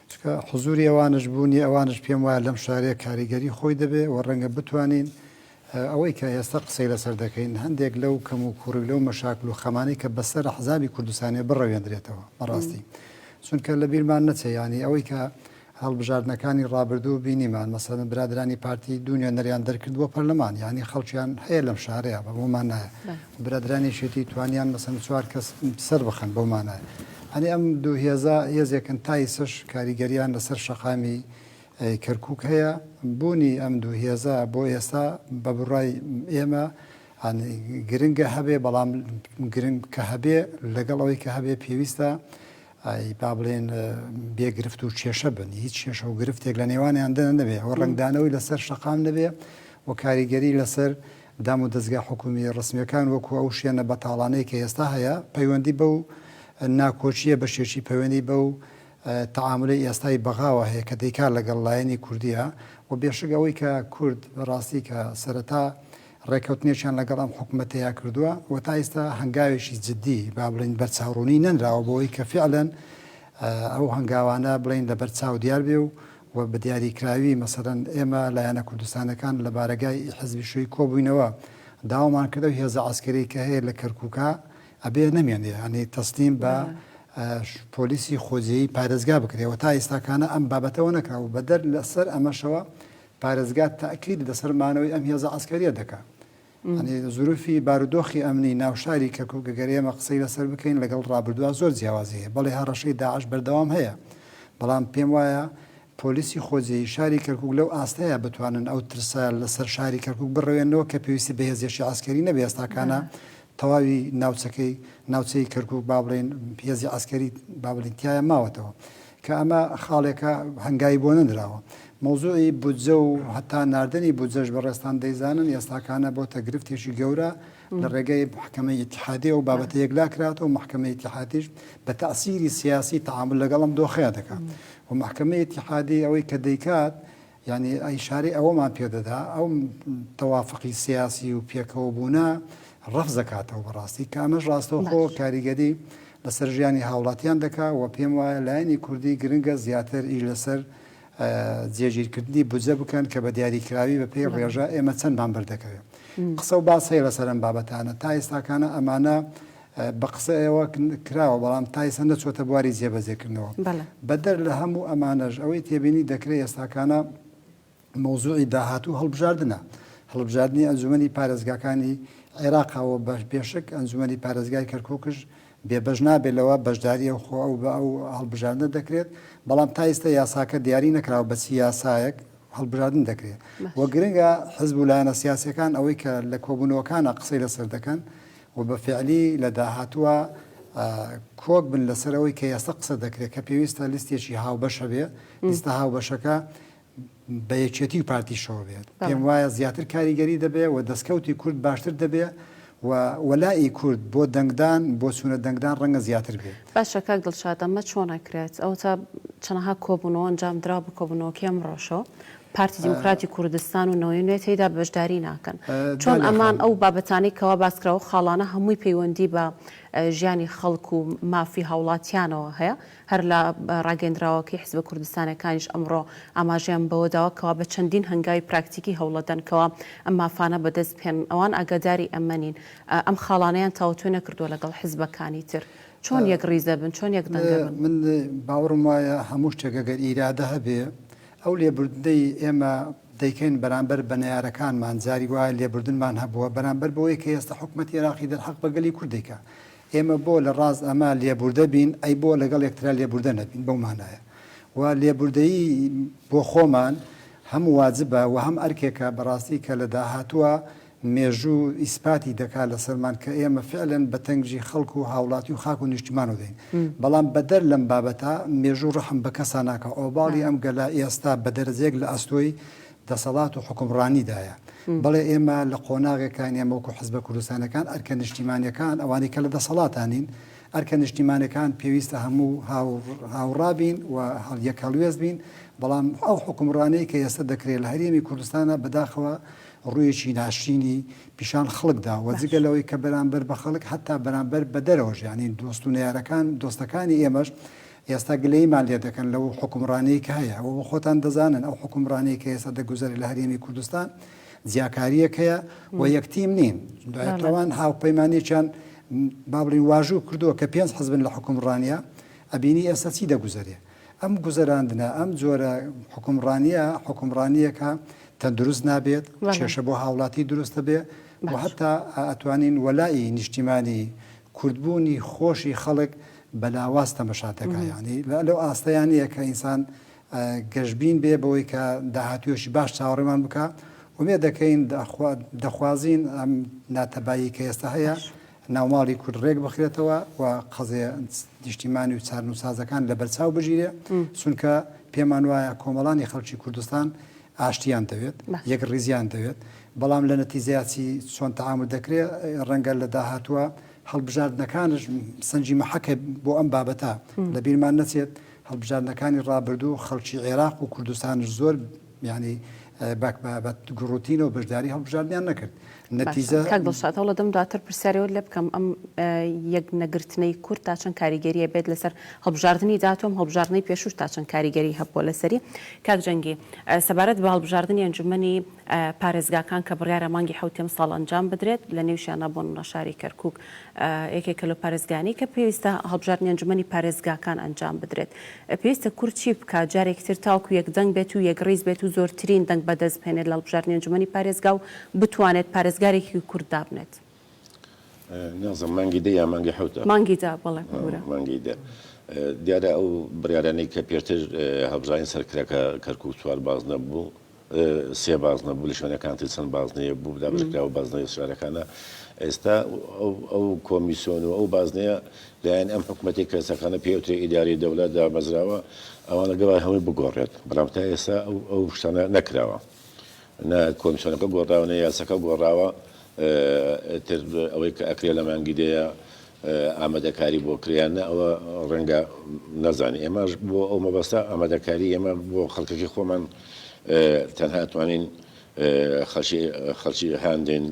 چونکە حزوری ئەوانەش بونی ئەوانەش پێم وایە لەم شارەیە کاریگەری خۆی دەبێ و ڕەنگە بتوانین ئەوەی کە ئێستا قسەی لەسەر دەکەین هەندێک لەو کەم و کوڕی لەو مەشاکل و خەمانەی کە بەسەر حزابی کوردستانیە بڕەوێندرێتەوە بەڕاستی چونکە لە بیرمان نەچێ ینی ئەوەی کە هەڵبژاردنەکانی ڕابردوو بینیمان مەسەلەن برادەرانی پارتی دوو نوێنەریان دەرکرد بۆ پەرلەمان یانی خەڵکیان هەیە لەم شارەیە بە بۆ مانایە برادرانی شێتی توانیان مەسەن چوار کەس سەر بخەن بۆ مانایە ئەنی ئەم دوو هێزا هێزێکن تایسش کاریگەریان لەسەر شەقامی کەرکک هەیە بوونی ئەم دوو هێزە بۆ ئێستا بە بڕای ئێمە گرنگە هەبێ بەڵام گرنگ کە هەبێ لەگەڵ ئەوەی کە هەبێ پێویستە ئای با بڵێن بێ گرفت و کێشە بن، هیچ کێشە و گرفتێک لە نێوانیاندا نەبێ و ڕەنگدانەوەی لەسەر شەقام نەبێ و کاریگەری لەسەر دام و دەزگا حکوومییە ڕەسمییەکان وەکوو ئەو شوێنە بەتاڵانەی کە ئێستا هەیە پەیوەندی بەو ناکۆکییە بەشێکی پەیوەندی بەو تەعامولەی ئێستای بەغاوە هەیە کە دەیکا لەگەڵ لایەنی کوردییە و بێشک ئەوەی کە کورد بەڕاستی کە سەرەتا ڕێککەوتنێکیان لەگەڵ ئەم حکومەتەیا کردووە و تا ئیستا هەنگاوێکی جدی با بڵێین بەرچاوڕوونی نەنراوە بۆ ئەوەی کە فیعلەن ئەو هەنگاوانە بڵێین لەبەر چاو دیار بێ و و بە دیاریکراوی مەسەلەن ئێمە لایەنە کوردستانەکان لە بارەگای ی حیزبی شووی کۆ بووینەوە داوامان کرد ئەو هێزە عەسکەریەی کە هەیە لە کەرکووکا ئەبێ نەمێنێ یانی تەسلیم بە پۆلیسی خۆجێیی پارێزگا بکرێ و تا ئیستاکانە ئەم بابەتەوە نەکرا و بەدەر لەسەر ئەمەشەوە پارێزگا تەئکید لەسەر مانەوەی ئەم هێزە عەسکەریە دەکا یانی زروفی بارودۆخی ئەمنی ناو شاری کەرکوک گەر ئێمە قسەی لەسەر بکەین لەگەڵ ڕابردووا زۆر جیاوازی هەیە بەڵێ هەڕەشەی داعش بەردەوام هەیە بەڵام پێم وایە پۆلیسی خۆجێیی شاری کەرکوک لەو ئاستەیە بتوانن ئەو ترسە لەسەر شاری کەرکوک بڕەوێنەوە کە پێویستی بە هێزێکی عەسکەری نەبێ ئێستاکانە تەواوی ناوچەکەی ناوچەی کەرکوک با بڵێین هێزی عەسکەری با بڵێین تایە ماوەتەوە کە ئەمە خاڵێکە هەنگاوی بۆ نەنراوە. مەوزوعی بودجە و هەتا ناردنی بودجەش بەڕێزتان دەیزانن ئێستاکانە بۆتە گرفتێکی گەورە لە ڕێگەی محکەمەی ئیتیحادییەوە و بابەتە یەکلا کراتەوە، محکەمەی ئیتیحادیش بە تەئسیری سیاسی تەعامول لەگەڵ ئەم دۆخەیە دەکات و محکەمەی ئیتیحادی ئەوەی کە دەیکات یانی ئیشارەی ئەوەمان پێ دەدا ئەو تەوافقی سیاسی و پێکەوە بوونە ڕەفز دەکاتەوە بەڕاستی کە ئەمەش ڕاستەوخۆ کاریگەری لەسەر ژیانی هاوڵاتیان دەکا و پێم وایە لایەنی کوردی گرنگە زیاتر ئی لەسەر جێگیرکردنی بجە بکەن کە بە دیاریکراوی بە پێی ڕێژە ئێمە چەندمان بەردەکەوێت قسە و باسەیە لەسەرم بابەتانە تا ئێستاکانە ئەمانە بە قسە ئێوە کراوە، بەڵام تا ئیستا نەچۆتە بواری جێبەجێکردنەوە. بەڵێ. بەدەر لە هەموو ئەمانەش، ئەوەی تێبینی دەکرێ ئێستاکانە مەوزوعی داهاتوو و هەڵبژاردنە. هەڵبژاردنی ئەنجومەنی پارێزگاکانی عێراقە و بە پێشەک ئەنجومەنی پارێزگای کەرکوکش بێبەش نابێ لەوە، بەشداری ئەو خۆ ئەو بە ئەو هەڵبژاردنە دەکرێت، بەڵام تا ئیستا یاساکە دیاری نەکراوە بە چی یاسایەک هەڵبژاردن دەکرێ و گرنگە حزب و لایەنە سیاسیەکان ئەوەی کە لە کۆبوونەوەکانا قسەی لەسەر دەکەن و بە فیعلی لە داهاتووا کۆک بن لەسەر ئەوەی کە ئێستا قسە دەکرێت کە پێویستە لیستێکی هاوبەش هەبێ، لیستە هاوبەشەکە بە یەکێتی و پارتیشەوە بێت، پێم وایە زیاتر کاریگەری دەبێ و دەستکەوتی کورد باشتر دەبێ و وەلائی کورد بۆ دەنگدان، بۆ چوونە دەنگدان ڕەنگە زیاتر بێ. باشە کاک دڵشاد ئەمە چۆن ئەکرێت؟ ئەوەتا چەنەها کۆبوونەوە ئەنجامدراوە بە کۆبوونەوەکەی ئەمڕۆشەوە، پارتی دیموکراتی کوردستان و نەوەی نوێ تێیدا بەشداری ناکەن چۆن ئەمان ئەو بابەتانەی کەوا باسکرا و خاڵانە هەمووی پەیوەندی بە ژیانی خەڵک و مافی هاوڵاتیانەوە هەیە هەر لە ڕاگەندراوەکەی حزبە کوردستانەکانیش ئەمڕۆ ئاماژەیان بەوەداوە کەوا بە چەندین هەنگاوی پراکتیکی هەوڵەدەن کەوا ئەم مافانە بەدەست بهێنن ئەوان ئاگاداری ئەمە نین ئەم خاڵانەیان تاوتوێ نەکردووە لەگەڵ حزبەکانی تر چۆن یەک ڕیزەبن چۆن یەک دەنگەبن؟ من باوڕم وایە هەموو شتێک ئەگەر ئیرادە هەبێ ئەو لێبوردنەی ئێمە دەیکەین بەرامبەر بە نەیارەکانمان، جاری وایە لێبوردنمان هەبووە بەرامبەر بەوەی کە ئێستا حکومەتی عێراقی دەرحەق بە گەلی کورد دەیکا. ئێمە بۆ لە ڕاست ئەمە لێبوردە بین، ئەی بۆ لەگەڵ یەکترا لێبوردە نەبین؟ بەو مانایە و لێبوردەیی بۆ خۆمان هەم واجبە و هەم ئەرکێکە بەڕاستی کە لە داهاتووە مێژوو ئیسپاتی دەکات لەسەرمان کە ئێمە فعلەن بە تەنگژی خەڵک و هاوڵاتی و خاک و نیشتیمانەوە دێین بەڵام بەدەر لەم بابەتە مێژوو ڕەحم بە کەسا ناکا ئۆباڵی ئەم گەلە ئێستا بە دەرەجەیەک لە ئەستۆی دەسەڵات و حوکمڕانیدایە بەڵێ ئێمە لە قۆناغێکاین ئێمە وەکو حزبە کوردستانەکان ئەرکە نیشتیمانەکان ئەوانەی کە لە دەسەڵاتانین ئەرکە نیشتیمانەکان پێویستە هەموو هاوڕابین و هەڵیەک هەڵوێست بین بەڵام ئەو حوکمڕانەی کە ئێستا دەکرێت لە هەرێمی کوردستانە بەداخەوە ڕوویەکی ناشرینی پیشان خەڵک داوە، جگە لەوەی کە بەرانبەر بە خەڵک هەتا بەرانبەر بە دەرەوەش یانی دۆست و نەیارەکان دۆستەکانی ئێمەش ئێستا گلەییمان لێ دەکەن لەو حوکمڕانیەی کە هەیە ئەوە بۆ خۆتان دەزانن ئەو حوکمڕانیەی کە ئێستا دەگوزەرێ لە هەرێمی کوردستان جیاکاریەک هەیە و یەکتیم نین دوای ئەوان هاوپەیمانێکیان با بڵین واژوو کردووە کە پێنج حزبن لە حوکمڕانیە ئەبینی ئێستا چی دەگوزەرێ ئەم گوزەراندنە، ئەم جۆرە حوکمڕانییە، حوکمڕانییەکە تەندروست نابێت، کێشە بۆ هاوڵاتی دروست دەبێ و هەتا ئەتوانین وەلائی نیشتیمانی کوردبوونی خۆشی خەڵک بە لاواز تەمەشا دەکا. یانی لەو ئاستەیا نییە کە ئینسان گەشبین بێ بەوەی کە داهاتوویەکی باش چاوەڕێمان بکا. ئومێد دەکەین، دەخوازین ئەم ناتەبایی کە ئێستا هەیە، ناوماڵی کورد ڕێک بخرێتەوە و قەزێ نیشتیمانی و چارن و سازەکان لە بەرچاو بژیرێ چونکە پێمان وایە کۆمەڵانی خەڵکی کوردستان ئاشتیان دەوێت یەک ڕیزیان دەوێت بەڵام لە نەتیزیاتی چۆن تەعام دەکرێت ڕەنگە لە داهاتوە هەڵبژاردنەکانش سنجی مەحەکە بۆ ئەم بابەتە لە بیرمان نەچێت هەڵبژاردنەکانی ڕابردوو خەڵکی عێراق و کوردستانش زۆر یانی باک بابەت گوڕوتینەوە بەشداری هەڵبژاردنیان نەکرد نەتیجە کاک دڵشاد هەوڵ دەم دواتر پرسیارەوەت لێ بکەم ئەم یەک نەگرتنەی کورد تا چەند کاریگەریە بێت لەسەر هەڵبژاردننی داتۆم هەڵبژاردنەی پێشوش تا چەند کاریگەری هەبووە لەسەری کاک جەنگی سەبارەت بە هەڵبژاردننی ئەنجومنی پارێزگاکان کە بڕیارە مانگی حوتێم ساڵ ئەنجام بدرێت لە نێوشیانە بۆن ڕەشاری کەرکک یەکێکە لەو پارێزگانەی کە پێویستە هەڵبژاردنی ئەنجومەنی پارێزگاکان ئەنجام بدرێت. پێویستە کورد چی بکات جارێکی تر تاوەکو یەکدەنگ بێت و یەکڕیز بێت و زۆرترین دەنگ بەدەست بهێنێت لە هەڵبژاردنی ئەنجومەنی پارێزگا و بتوانێت پارێزگارێکی کورد دابنێت؟ نازم مانگی دە یا مانگی حەوتە؟ مانگی دە بەڵێ کورە. مانگی دە دیارە ئەو بڕیارانەی کە پێشتر هەڵبژاردنی سەر کرا کە کەرکوک چوار بازنە بوو، سێ بازنە بوو لە شوێنەکانتی چەند بازنەیە بوو دابەشکرا و بازنەی شارەکانە ئێستا ئەو کۆمیسیۆن و ئەو بازنەیە لایەن ئەم حکوومەتی کەسەکانە پێوتری ئیداری دەولە دامەزراوە ئەوانە گەڵای هەمووی بگۆڕێت بەڵام تا ئێستا ئەو شتانە نەکراوە نە کۆمیسیۆنەکە گۆڕاوە نە یاسەکە گۆڕاوە تر ئەوەی کە ئەکرێ لە مانگی دەیە ئامادەکاری بۆ کرێ یان نا ئەوە ڕەنگە نازانێ ئێمەش بۆ ئەو مەبەستە ئامادەکاری ئێمە بۆ خەڵکەکەی خۆمان تەنها توانین خەڵکی خەڵکی هاندین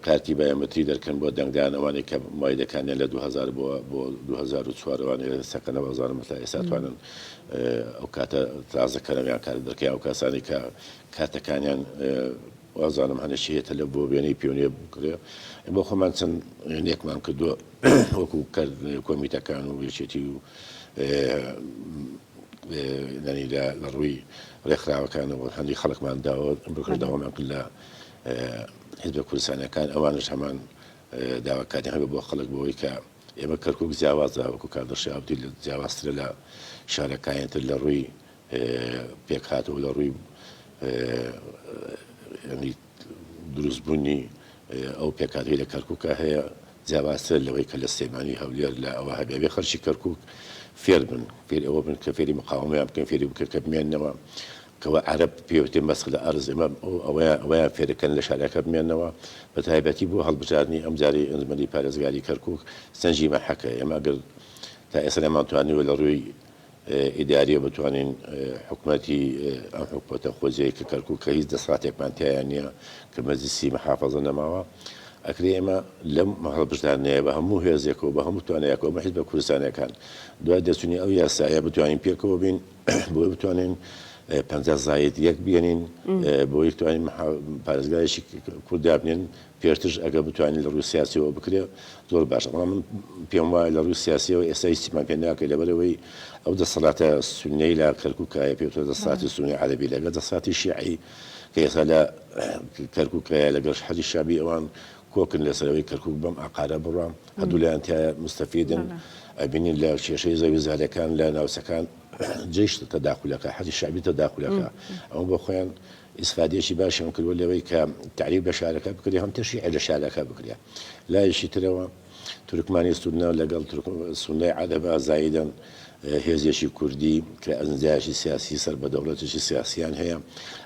کارتی بایۆمەتری دەرکەن بۆ دەنگدان ئەوانەی کە مایدەکانیان لە 2000 بۆ بۆ 2004 وانە سەکەنە بەزانم تا ئێستا توانن ئەو کاتە تازەکەرەویان کار دەکەیان ئەو کەسانی کە کاتەکانیان وازانم هەنە چی هێتە لە بۆ وێنەی پێونێ بکرێ بۆ خۆمان چەند وێنێکمان کردووە وەکو کرد کۆمیتەکان و یەکێتی و نەنی لە ڕووی ڕێکخراوەکانەوە هەندی خەڵکمان داوە بکردەوەمان کرد لە هێزە کوردستانەکان ئەوانش هەمان داواکاری هەبێ بۆ خەڵک بۆەوەی کە ئێمە کەرکک جیاوازە وەکو کاردەشی ئابدی لە جیاوازترە لە شارەکانیتر لە ڕووی پێکهاتەوە لە ڕووی دروست بوونی ئەو پێکاتی لە کەرککە هەیە جیاوازتر لەوەی کە لە سلێمانی هەولێر لە ئەوە هەبێ خەرشی کەرکک فێر بن فێر ئەوە بن کە فێری مقاومیان بکەن فێری بکە کە بمێنەوە کەەوە عرب پێوتێ مەسخ لە ئەرز ئمە ئەوەیان ئەوەیان فێرەکەن لە شارەکە بمێنەوە بە تایبەتی بۆ هەڵبژاردننی ئەم جاری ئەنجمەری پارێزگاری کەرکک سنجی مەحەکە ئێمە گەر تا ئێستا نەمانتوانیوە لە ڕووی ئیداریە بتوانین حکومەتی ئەم حکومەتە خۆجێی کە کەرکوک کە هیچ دەساتێکمان تیایا نییە کە مەجلیسی محافەزە نەماوە ئەکرێ ئێمە لەم هەڵبژاردنەیە بە هەموو هێزێکەوە بە هەموو توانەیەکەوە بە حیزبە کوردستانەکان دوای دەرچوونی ئەو یاسایە بتوانین پێکەوە بین بۆی بتوانین پەنجا زاید یەک بێنین بۆی بتوانین پارێزگایشی کورد دابنێن پێشترش ئەگەر بتوانێ لە ڕووی سیاسیەوە بکرێ زۆر باشە بەڵام من پێم وایە لە ڕووی سیاسیەوە ئێستا هیچیمان پێ ناکرێ لەبەرئەوەی ئەو دەسەڵاتە سوننەی لە کەرکووکە هەیە پێی وترێ دەسەڵاتی سوننەی عەرەبی لەگەڵ دەسەڵاتی شیعی کە ئێستا لە کەرکووک هەیە لەگەڵ حەشدی شەعبی ئەوان کۆکن لەسەر ئەوەی کەرکووک بەم عەقارە بڕوا هەردوو لایان تایە مستەفیدن ئەبینین لە کێشەی زەوی زارەکان لە ناوچەکان جەیش تەداخولەکە حەشدی شەعبی تەداخولەکە ئەوە بۆ خۆیان ئیسفادەیەکی باشیان کردووە لەوەی کە تەعریب لە شارەکە بکرێ هەم تەشیعی لە شارەکە بکرێ لایەکی ترەوە تورکمانی سوننە لەگەڵ سوننەی عەرەب ئازاییدەن هێزێکی کوردی کە ئەنجایەکی سیاسی سەر بە دەوڵەتێکی سیاسیان هەیە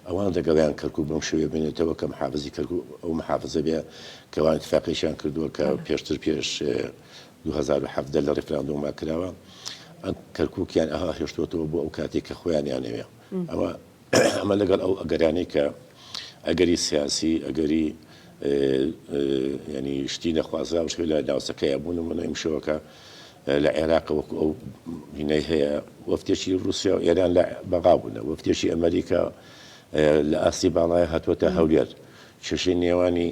ئەوان دەگەڵیان کەرکوو بەم شوێ بێنێتەوە کە محافزی کەرکوو ئەو محافزە بێ کەوان اتفاقیشیان کردووە کە پێشتر پێش 2017 لە ڕیفراندۆما کراوە کەرکووکیان ئەها هێشتوەتەوە بۆ ئەو کاتێک کە خۆیانیانەوێ ئەوە ئەمە لەگەڵ ئەو ئەگەرانەی کە ئەگەری سیاسی ئەگەری ینی شتی نەخوازراو شێ لە ناوچەکەی بوون و منە ئیمشەوەکە لە عێراق وەکو ئەو هینەی هەیە وەفتێکی رووسیا و ئێران لە بەغا بوونە وەفتێکی ئەمریکا لە ئاستی باڵای هاتووەتە هەولێر کێشەی نێوانی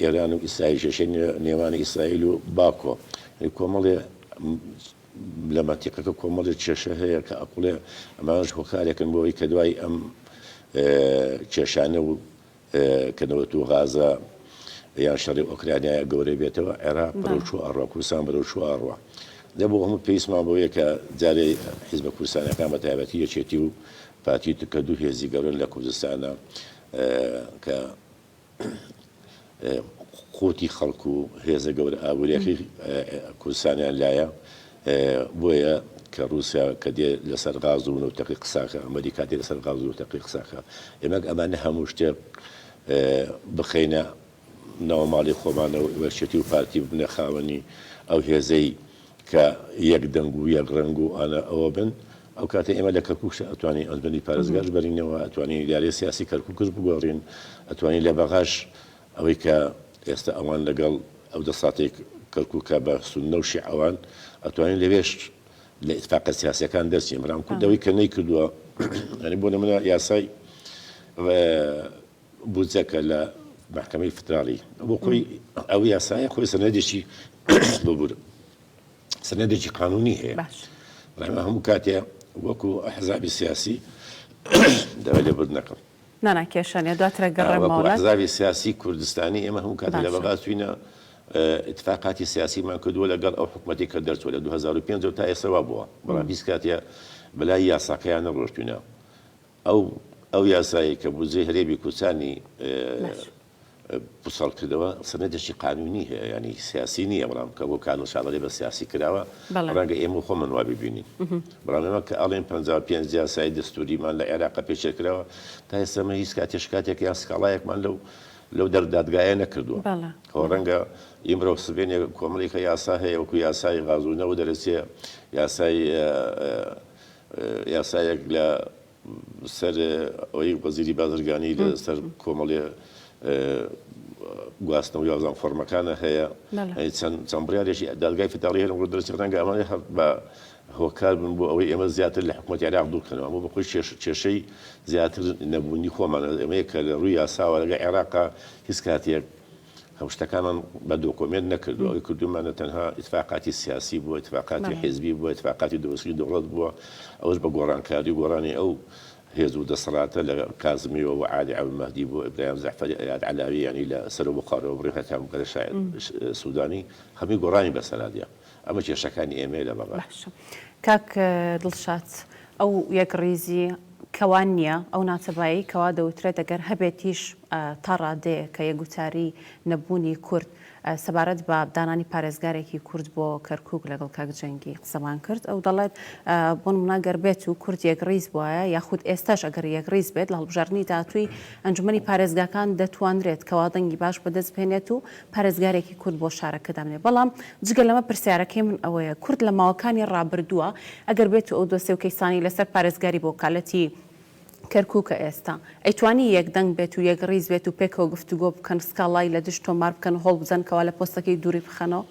ئێران و ئیسرائیل کێشەی نێوانی ئیسرائیل و باکۆ کۆمەڵێ لە مەنتیقەکە کۆمەڵێ کێشە هەیە کە ئەکوڵێ ئەمانەش هۆکارێکن بۆ ئەوەی کە دوای ئەم کێشانە و کە نەوەت و غازە یان شەڕی ئۆکرانیایە گەورە بێتەوە عێراق بەرەو چۆ ئەڕوا کوردستان بەرەو چۆ ئەڕوا لە بۆ هەموو پێویستمان بۆیە کە جارێ حیزبە کوردستانەکان بە تایبەتی یەکێتی و پارتی تکە دوو هێزی گەورن لە کوردستانە کە قوتی خەڵک و هێزە گەورە ئابوریەکەی کوردستانیان لایە بۆیە کە روسیا کە دێ لەسەر غاز و نەوتەکەی قساکە ئەمەریکا دێ لەسەر غاز و نەوتەکەی قساکە ئێمەک ئەمانە هەموو شتێک بخەینە ناوماڵی خۆمانەوە وەرچێتی و پارتی ببنە خاوەنی ئەو هێزەی کە یەک دەنگ و یەک ڕەنگ و ئانا ئەوە بن، ئەو کاتە ئێمە لە کەرکووکش ئەتوانین ئەنجومەنی پارێزگاش بەرینەوە، ئەتوانین ئیدارەی سیاسی کەرکووکش بگۆڕین، ئەتوانین لە بەغاش ئەوەی کە ئێستا ئەوان لەگەڵ ئەو دەسەڵاتەی کەرکووکە بە سوننە و شیعەوان، ئەتوانین لەوێش لە ئیتفاقە سیاسییەکان دەرچین، بەڵام کورد ئەوەی کە نەیکردووە، یانی بۆ نموونە یاسای بودجەکە لە مەحکەمەی فدراڵی بۆ خۆی ئەو یاسایە خۆی سەنەدێکی ببوور سەنەدێکی قانونی هەیە بەمە هەموو کاتێ وەکو حەزابی سیاسی دەوای لێ برد نەکەم نانا کێشانە دواترە گەڕێمەوەزاوی سیاسی کوردستانی ئێمە هەموو کات لە بەغاچوینە اتفاقاتی سیاسیمان کردووە لەگەڵ ئەو حکوومەتی کە دەرچوە لە 2005 تا ئێسەوا بووە بەڵام هیچ کاتە بەلای یاساکەیان نەڕۆشتوینە ئەو ئەو یاسایەی کە بودجەی هەرێمی کوچانی پوچەڵ کردەوە سەنەدێکی قانونی هەیە یانی سیاسی نییە بەڵام کە بۆ کانون شاڵەی بە سیاسی کراوە ڕەنگە ئێمە خۆمان وا ببینین بەڵام ئێمە کە ئەڵێن 55 یاسای دەستوریمان لە عێراق پێشێل کراوە تا ئێستەمە هیچ کاتێ شکاتێک یان سکاڵایەکمان لەو لەو دەردادگایە نەکردووە هەوە ڕەنگە ئیمرۆ سبێنێ کۆمەڵێکە یاسا هەیە وەکو یاسای غازوونەوە دەرەچێ یاسای یاسایەک لە سەر ئەوەی وەزیری بازرگانی لە سەر کۆمەڵێ گواستنەوە یازان فۆرمەکانە هەیە چەند بڕارێکی دادگای فداڵی هەرم بۆ دەرچ ڕەنگە ئەمانێ هەر بە هۆکار بن بۆ ئەوەی ئێمە زیاتر لە حکوومەت عێراق دوورکەنەوە بۆ بەخۆی کێشەی زیاتر نەبوونی خۆمانە ئەمەیە کە لە ڕووی یاساوە لەگە عێراقا هیچ کاتێک ئەم شتەکانمان بە دۆکۆمێنت نەکردووە، ئەوەی کردوومانە تەنها ئیتفاقاتی سیاسی بووە، ئیتفاقاتی حیزبی بووە، ئیتفاقاتی دروستکردنی دەوڵەت بووە، ئەوەش بە گۆڕانکاری و گۆڕانی ئەو هێز و دەسەڵاتە لە کازمیەوە بۆ عەلی عەبدولمەهدی بۆ ئیبراهیم جەعفەری، ئەیاد عەلاوی یانی لە سەرەوە بۆ خاروەبڕی هەتا بگەرە شاعیر سودانی، هەمووی گۆڕانی بەسەرا دێ. ئەمە کێشەکانی ئێمەیە لە بەغا. باشە کاک دڵشاد ئەو یەکڕیزی کەوا نییە، ئەو ناتەبایەی کەوا دەوترێت ئەگەر هەبێتیش تا ڕادەیەکە یەکگوتاری نەبوونی کورد سەبارەت بە دانانی پارێزگارێکی کورد بۆ کەرکوک لەگەڵ کاک جەنگی قسەمان کرد ئەو دەڵێت بۆ نمونە گەر بێت و کورد یەکڕیز بوایە یاخود ئێستاش ئەگەر یەکڕیز بێت لە هەڵبژاردنی داهاتووی ئەنجومەنی پارێزگاکان دەتوانرێت کەوا دەنگی باش بەدەست بهێنێت و پارێزگارێکی کورد بۆ شارەکە دامنێ بەڵام جگە لەمە پرسیارەکەی من ئەوەیە کورد لە ماوەکانی ڕابردووە ئەگەر بێتو ئەو دۆسێ و کەیسانەی لەسەر پارێزگاری بۆ وەکالەتی کەرکوکە ئێستا ئەیتوانی یەک دەنگ بێت و یەک ڕیز بێت و پێکەوە گفتوگۆ بکەن سکاڵای لە دژ تۆمار بکەن و هەوڵ بدەن کەوا لە پۆستەکەی دووری بخەنەوە؟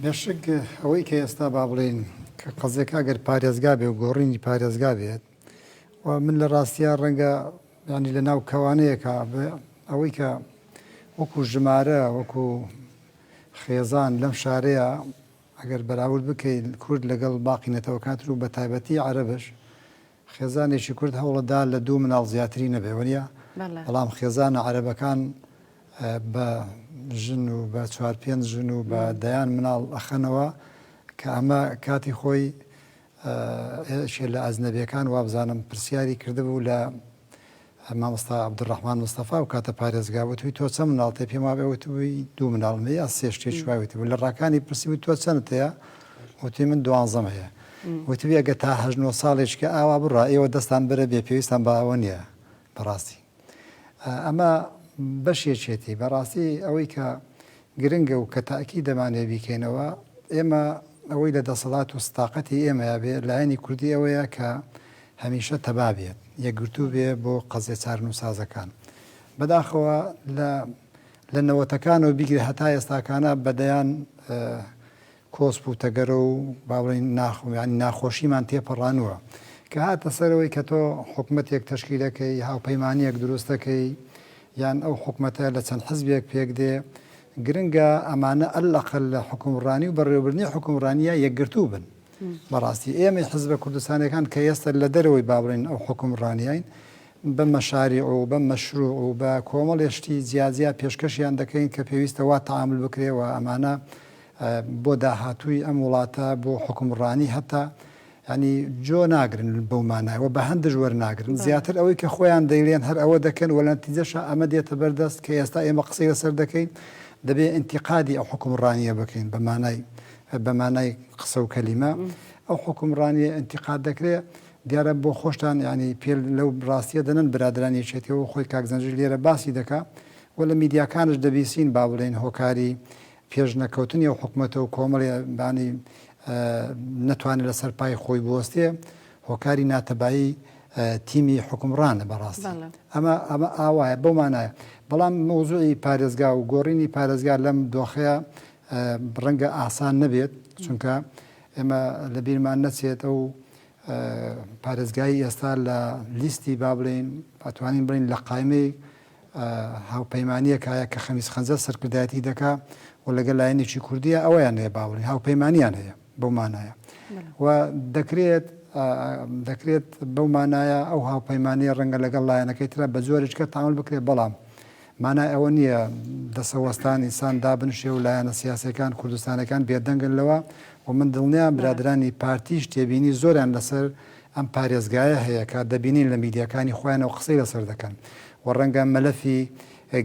بێشک ئەوەی کە ئێستا با بڵێین کە قەزێکە ئەگەر پارێزگا بێ و گۆڕینی پارێزگا بێت و من لە ڕاستیا ڕەنگە یانی لە ناو کەوانەیەکا بە ئەوەی کە وەکوو ژمارە وەکوو خێزان لەم شارەیە ئەگەر بەراورد بکەین کورد لەگەڵ باقی نەتەوەکان تر و بە تایبەتی عەرەبش خێزانێکی کورد هەوڵەدا لە دوو مناڵ زیاتری نەبێ وەنیە بەڵێ بەڵام خێزانە عەرەبەکان اه، بە ژن و بە چوار پێنج ژن و بە دەیان مناڵ ئەخەنەوە کە ئەمە کاتی خۆی یەکێ لە ئەجنەبیەکان وابزانم پرسیاری کردبوو لە مامۆستا عبدالرحمن مستەفا و کاتە پارێزگا وتوی تۆ چەند مناڵ تێ پێم وابێ وتبووی دوو مناڵم هەیە یا سێ شتێ شوای وتبوو لە ڕاکانی پرسی و تۆ چەند تەیە وتی من دوانزەم هەیە وتبێگە تا هەژنۆ ساڵێککە ئاوا بڕا ئێوە دەستان بەرە بێ پێویستان بە ئەوە نییە بەڕاستی ئەمە بەشێکێتی، بەڕاستی ئەوەی کە گرنگە و کە تەئکید دەمانەوێت بیکەینەوە، ئێمە ئەوەی لە دەسەڵات و سداقەتی ئێمەیا بێت، لایەنی کوردی ئەوەیە کە هەمیشە تەبا بێت، یەکگرتوو بێت بۆ قەزیە چارەنووسازەکان. بەداخەوە لە لە نەوەتەکانەوە بیگرە هەتا ئێستاکانە بە دەیان کۆسپ و تەگەرە و با بڵێین ناخ یانی ناخۆشیمان تێپەڕانووە کە هاتە سەرەوەی کە تۆ حکومەتێک تەشکیلەکەی هاوپەیمانیەک دروستەکەی یان ئەو حکومەتە لە چەند حزبێک پێک دێ گرنگە ئەمانە اللەقەل لە حکومڕانی و بەڕێوەبردنی حکومڕانیە یەکگرتوو بن بەڕاستی ئێمەی حزبە کوردستانەکان کە ئێستا لە دەرەوەی با بڵێین ئەو حکومڕانیین بە مەشاریع و بە مەشروع و بە کۆمەڵێ شتی جیاجیا پێشکەشیان دەکەین کە پێویستە وا تەعامل بکرێ و ئەمانە بۆ داهاتووی ئەم وڵاتە بۆ حوکمڕانی هەتا یانی جۆ ناگرن بەو مانای وە بەهەندش وەرناگرن زیاتر ئەوەی کە خۆیان دەیلێن هەر ئەوە دەکەن وە لەنتیجەشا ئەمە دێتە بەردەست کە ئێستا ئێمە قسەی لەسەر دەکەین دەبێ ئینتیقادی ئەو حوکمڕانیە بکەین بە مانای بە مانای قسە و کەلیمە ئەو حوکمڕانیە ئینتیقاد دەکرێ دیارە بۆ خۆشتان یانی پێل لەو ڕاستیە دەنەن برادران یەکێتیەوە خۆی کاک زەنجیر لێرە باسی دەکا وە لە میدیاکانش دەبیسین با بڵێین هۆکاری پێش نەکەوتنی ئەو حکومەتە و کۆمەڵی بانی نەتوانێت لەسەر پای خۆی بوەستێ هۆکاری ناتەبایی تیمی حکومڕانە بەڕاستی ئەمە ئەمە ئاوایە بەو مانایە بەڵام مۆزوعی پارێزگا و گۆڕینی پارێزگا لەم دۆخەیە ڕەنگە ئاسان نەبێت چونکە ئێمە لە بیرمان نەچێت ئەو پارێزگای ئێستا لە لیستی با بڵین ئەتوانین بڵین لە قایمەی هاوپەیمانیەک هەیە کە خەمیس خەنجەر سەرکردایەتی دەکا و لەگەل لایەنێکی کوردیە ئەوەیان هەیە باوەڕی هاوپەیمانیان هەیە بەو مانایە و دەکرێت دەکرێت بەو مانایە ئەو هاوپەیمانیە ڕەنگە لەگەڵ لایەنەکەی ترە بە جۆرێکە تاول بکرێت بەڵام مانای ئەوە نییە دەسەوەستان ئینسان دابنشێ و لایەنە سیاسەکان کوردستانەکان بێدەنگن لەوە و من دڵنیام برادرانی پارتیش تێبینی زۆران لەسەر ئەم پارێزگایە هەیە کە دەبینین لە میدیاکانی خۆیانەوە قسەی لەسەر دەکەن و ڕەنگە مەلەفی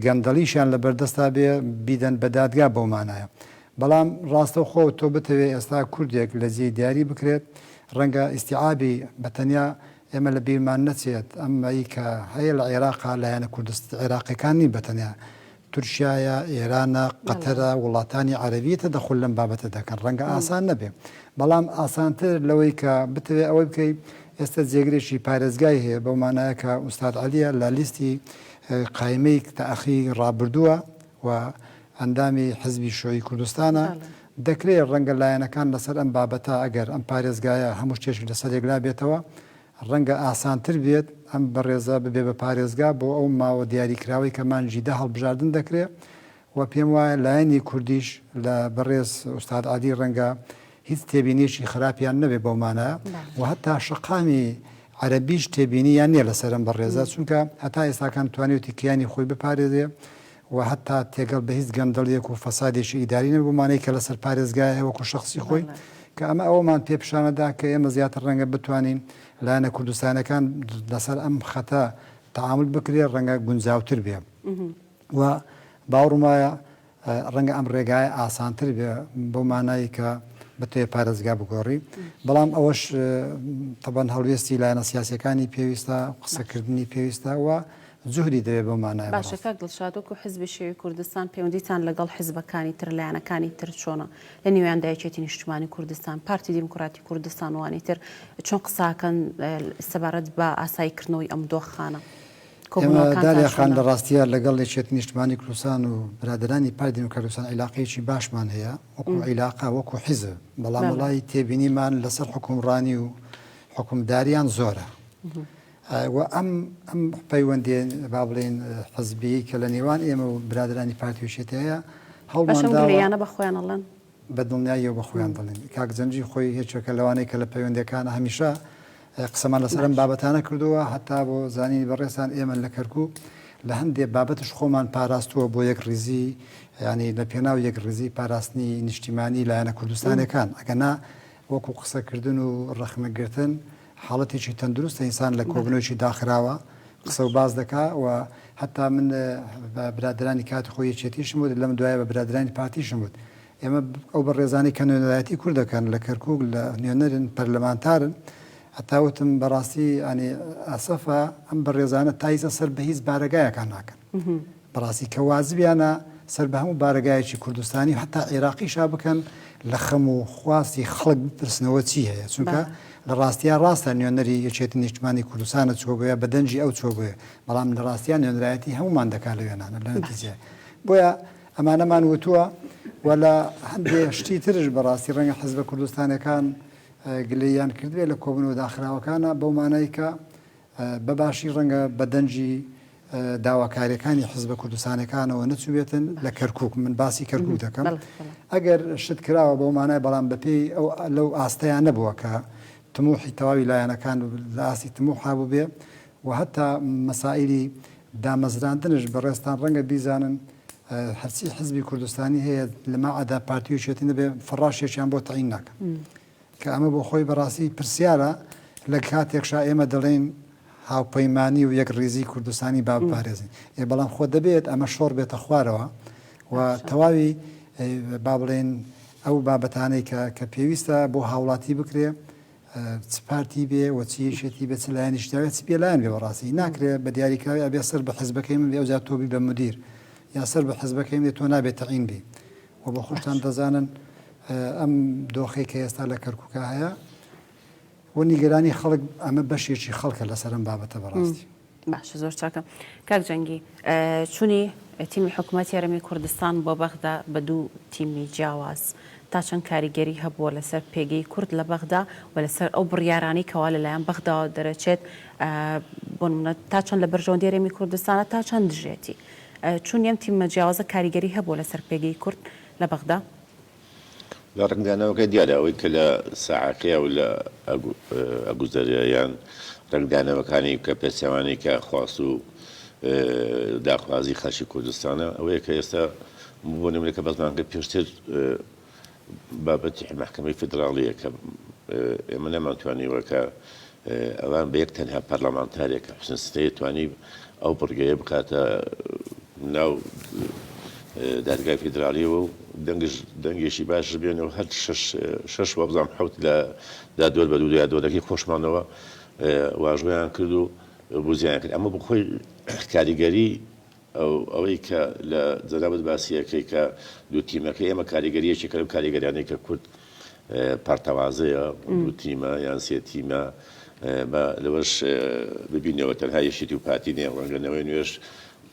گەندەڵیشیان لەبەردەستا بێ بیدەن بە دادگا بەو مانایە بەڵام ڕاستەوخۆ تۆ بتەوێ ئێستا کوردێک لە جێی دیاری بکرێت ڕەنگە ئیستیعابی بە تەنیا ئێمە لە بیرمان نەچێت ئەمەی کە هەیە لە عێراقا لایەنە کوردست عێراقیەکان نین بە تەنیا تورکیایە، ئێرانە، قەتەرە، وڵاتانی عەرەبی تەدەخول لەم بابەتە دەکەن. ڕەنگە ئاسان نەبێ، بەڵام ئاسانتر لەوەی کە بتەوێ ئەوەی بکەی، ئێستە جێگرێکی پارێزگای هەیە، بەو مانایە کە ئوستاد عەلیە لە لیستی قایمەی تەئخی ڕابردووە و ئەندامی حزبی شیوعی کوردستانە، دەکرێ ڕەنگە لایەنەکان لەسەر ئەم بابەتە ئەگەر ئەم پارێزگایە هەموو شتێکی لەسەر یەک لابێتەوە، ڕەنگە ئاسانتر بێت ئەم بەڕێزە ببێ بە پارێزگا بۆ ئەو ماوە دیاریکراوەی کە مانگی دە هەڵبژاردن دەکرێ و پێم وایە لایەنی کوردیش لە بەڕێز ئوستاد عەلی ڕەنگە هیچ تێبینیەکی خراپیان نەبێ بەو مانایە و هەتا شەقامی عەرەبیش تێبینیان نیە لەسەر ئەم بەڕێزە چونکە هەتا ئێستاکان توانیوتی کیانی خۆی بپارێزێ. و هەتا تێگەڵ بە هیچ گەندەڵیەک و فەسادێکی ئیداری نەبێت بەمانەی کە لەسەر پارێزگایە وەکو شەخسی خۆی کە ئەمە ئەوەمان پێ پیشانەدا کە ئێمە زیاتر ڕەنگە بتوانین لایەنە کوردستانیەکان لەسەر ئەم خەتە تەعامول بکرێت ڕەنگە گونجاوتر بێ و باوڕم وایە ڕەنگە ئەم ڕێگایە ئاسانتر بێ بەو مانایی کە بتوێ پارێزگا بگۆڕی بەڵام ئەوەش تەبەن هەڵوێستی لایەنە سیاسەکانی پێویستە قسەکردنی پێویستە و جوهری دەوێت بەو مانایە بەڕاستی. باشە کاک دڵشاد وەکو حزبی شیوعی کوردستان پەیوەندیتان لەگەڵ حزبەکانی تر لایەنەکانی تر چۆنە لە نیویاندا یەکێتی نیشتمانی کوردستان پارتی دیموکراتی کوردستان وئەوانی تر چۆن قساکەن سەبارەت بە ئاسایی کردنەوەی ئەم دۆخانە کۆبونەوەکانتان چۆنە؟ دالیا خان لەڕاستیا لەگەڵ یەکێتی نیشتمانی کوردستان و برادەرانی پارتی دیموکراتی کوردستان عیلاقەیەکی باشمان هەیە وەکو عیلاقە وەکو حزب بەڵام وەڵای تێبینیمان لەسەر حوکمڕانی و حوکمداریان زۆرە و ئەم ئەم پەیوەندیە با بڵێین حزبیەی کە لە نێوان ئێمە و برادرانی پارتی و شێتی هەیە هەوڵمان داوە یانە بە خۆیان ئەڵێن بە دڵنیاییەوە بە خۆیان دەڵێن کاک جەنگی خۆی هێچەکە لەوانەیە کە لە پەیوەندەکان هەمیشە قسەمان لەسەر ئەم بابەتانە کردووە هەتا بۆ زانینی بەڕێزان ئێمە لە کەرکووک لە هەندێک بابەتش خۆمان پاراستووە بۆ یەک ڕیزی ینی لە پێناو یەک ڕیزی پاراستنی نیشتیمانی لایەنە کوردستانەکان ئەگەنا وەکو قسەکردن و ڕەخنەگرتن حاڵەتێکی تەندروستە ئینسان لە کۆبنەوەیەکی داخراوە قسە و باس دەکا و هەتا من بە برادرانی کاتی خۆی یەکێتیشم وت لەم دوایە بە برادرانی پارتیشم وت ئێمە ئەو بەڕێزانەی کە نوێنەرایەتی کورد دەکەن لە کەرکووک لە نوێنەرن پەرلەمانتارن هەتا وتم بەڕاستی ئەنی ئەسەفە ئەم بەڕێزانە تا هیچ سەر بە هیچ بارەگایەکان ناکەن بەڕاستی کە وازبیانە سەر بە هەموو بارەگایەکی کوردستانی و حەتا عیراقیشا بکەن لە خەم و خواستی خەڵک بپرسنەوە چی هەیە چونکە لە ڕاستیا ڕاستە نوێنەری یەکێتی نیشتمانی کوردستانە چووە بۆیە بە دەنگی ئەو چووە بۆیە بەڵام لە ڕاستیا نوێنەرایەتی هەموومان دەکا لە وێنانە لە نەتیجەیە بۆیە ئەمانەمان وتووە و لە هەندێ شتی ترش بەڕاستی ڕەنگە حزبە کوردستانەکان گلەییان کردوێ لە کۆبنەوە داخراوەکانە بەو مانای کە بە باشی ڕەنگە بە دەنگی داواکاریەکانی حزبە کوردستانەکانەوە نەچوبێتن لە کەرکوک من باسی کەرکوک دەکەم ئەگەر شت کراوە بەو مانای بەڵام بەپێی ئەو لەو ئاستەیان نەبووە کە تموحی تەواوی لایەنەکان لە ئاستی تموح هابوو بێ و هەتا مەسائلی دامەزراندنش بەڕێزتان ڕەنگە بیزانن هەرچی حزبی کوردستانی هەیە لەمەعدا پارتی و یەکێتی نەبێ فەڕاشێکیان بۆ تەعین ناکەن. کە ئەمە بۆ خۆی بەڕاستی پرسیارە لە کاتێکشا ئێمە دەڵێین هاوپەیمانی و یەکڕیزی کوردستانی با بپارێزین، ئێ بەڵام خۆ دەبێت ئەمە شۆڕ بێتە خوارەوە و تەواوی با بڵێین ئەو بابەتانەی کە کە پێویستە بۆ هاوڵاتی بکرێ چ پارتی بێ و چ یەکێتی بێ چ لایەنیش داوێت چ پێلایەن بێ بەڕاستی ناکرێ بە دیاریکراوی ئەبێ سەر بە حزبەکەی من بێ ئەوجا تۆبی بە مدیر یا سەر بە حزبەکەی من بێ تۆ نابێت تەعین بی وە بە خۆشتان دەزانن ئەم دۆخەی کە ئێستا لە کەرکوکە هەیە وە نیگەرانی خەڵک ئەمە بەشێکی خەڵکە لەسەر ئەم بابەتە بەڕاستی. باشە زۆر چاکە کاک جەنگی چونی تیمی حکومەت یارەمی کوردستان بۆ بەغدا بە دوو تیمی جیاواز تا چەند کاریگەری هەبووە لەسەر پێگەی کورد لە بەغدا و لەسەر ئەو بڕیارانی کەوا لەلایەن بەغداوە دەرەچێت بۆ نمونە تا چەند لە بەرژەوەندی یارەمی کوردستانە تا چەند دژێتی چون ام تیممە جیاوازە کاریگەری هەبووە لەسەر پێگەی کورد لە بەغدا؟ لە ڕەنگدانەوەکە دیارە ئەوەی کە لە ساحەکەیە و لە ئەگوزەرێ یان ڕەنگدانەوەکانی کە پێچەوانەی کە خواست و داخوازی خەلکی کوردستانە ئەوەیە کە ئێستا بۆ نمونە کە بەزمانگە پێشتر بابەتی مەحکەمەی فیدراڵییە کە ئێمە نەمانتوانیوە کە ئەوان بە یەک تەنها پەرلەمانتارێکە حسن ستەیە توانی ئەو بڕگەیە بکاتە ناو دادگای فیدراالیەوە و دەنگش دەنگێکی باش بێن و هەر شش وەبزانام حوت لە دادوەر بە دوو یادوەرەکەی خۆشمانەوە واژۆیان کرد و بزیان کرد ئەمە بخۆی کاریگەری ئەوەی کە لە جەنابت باسی ئەکەی کە دوو تیمەکەی ئێمە کاریگەریەکی کە لەو کاریگەریانەی کە کورد پارتەوازەیە دوو تیمە یان سێ تیمە بە لەوەش ببینەوە تەنها یەشێتی و پارتی نیە ڕەنگەنەوەی نوێش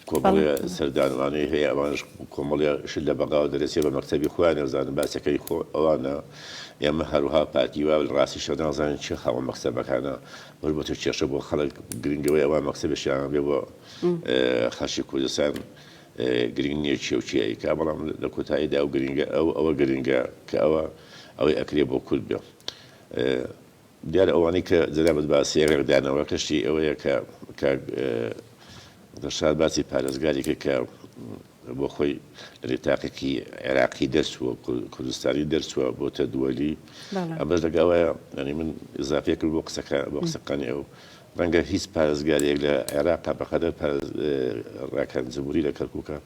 کۆمەڵێ سەردانوانەی هەیە ئەوانش کۆمەڵێ شت لە بەغاوە دەرەسێ بە مەکتەبی خۆیان نەزانن باسەکەی خۆ ئەوانە ئێمە هەروها پارتی وا ڕاستی شە نازانین چی خاوە مەکتەبەکانە وەربەتە کێشە بۆ خەڵک گرنگەوەی ئەوە مەکتەبشیان بێ بۆ خەڵکی کوردستان گرنگ نییە چییە و چی ئەیکا، بەڵام لە کۆتاییدا ئەو گرنگە، ئەو ئەوە گرنگە کە ئەوە ئەوەی ئەکرێ بۆ کورد بێ. دیارە ئەوانەی کە جەنابت باسی ڕێکدانەوەکەشی ئەوەیە کە کاک دڵشاد باسی پارێزگارێکی کە بۆ خۆی لە تاقیقی عێراقی دەرچووە کوردستانی دەرچووە بۆتە دووەلی ئەمەش لەگەوایە ئەنی من ئزافێ کرد بۆ قسەکە بۆ قسەکانی ئەو ڕەنگە هیچ پارێزگارێک لە عێراقا بەقەدەر ڕاکان جمهوری لە کەرکووکە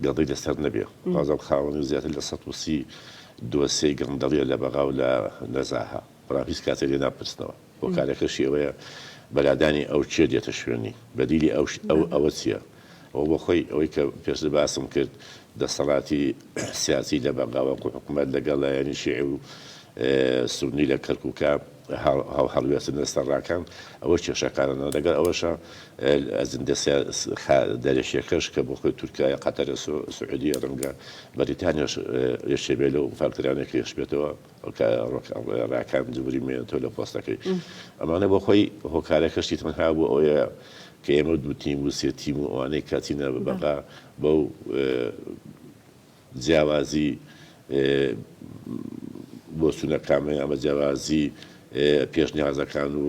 گەڵی لەسەر نەبێ بازم خاوەنی زیاتر لە سە وسی دۆسێ گەندەڵیە لە بەغاو لە نەزاها بەڵام هیچ کاتێ لێ ناپرسنەوە هۆکارەکەشی ئەوەیە بە لادانی ئەو کێ دێتە شوێنی؟ بەدیلی ئەوش ئەو ئەوە چیە؟ ئەوە بۆ خۆی ئەوەی کە پێشتر باسم کرد دەسەڵاتی سیاسی لە بەغاوە کو حکومەت لە گەڵ لایەنی شیعی و سوننی لە کەرکوکا هەڵ هەڵوێستن لە سەر ڕاکان ئەوە کێشەکانە لە گەڵ ئەوەشا ئەجندە سیا خا دەرەکیەکەش کە بۆ خۆی تورکایە قەتەرە سو سعودیە ڕەنگە بەریتانیاش یەکێ بێ لەو فاکتەرانەی کە یەشبێتەوە. کاکە راکان دووری مێنێ تۆ لە پۆستەکەی. ئەمانە بۆ خۆی هۆکارەکەشی تەنها بۆ ئەوەیە کە ئێمە دوو تیم و سێ تیم و ئەوانەی کە چینە بەغا بەو جیاوازی بۆچوونە کامەیە ئەمە جیاوازی پێشنیازەکان و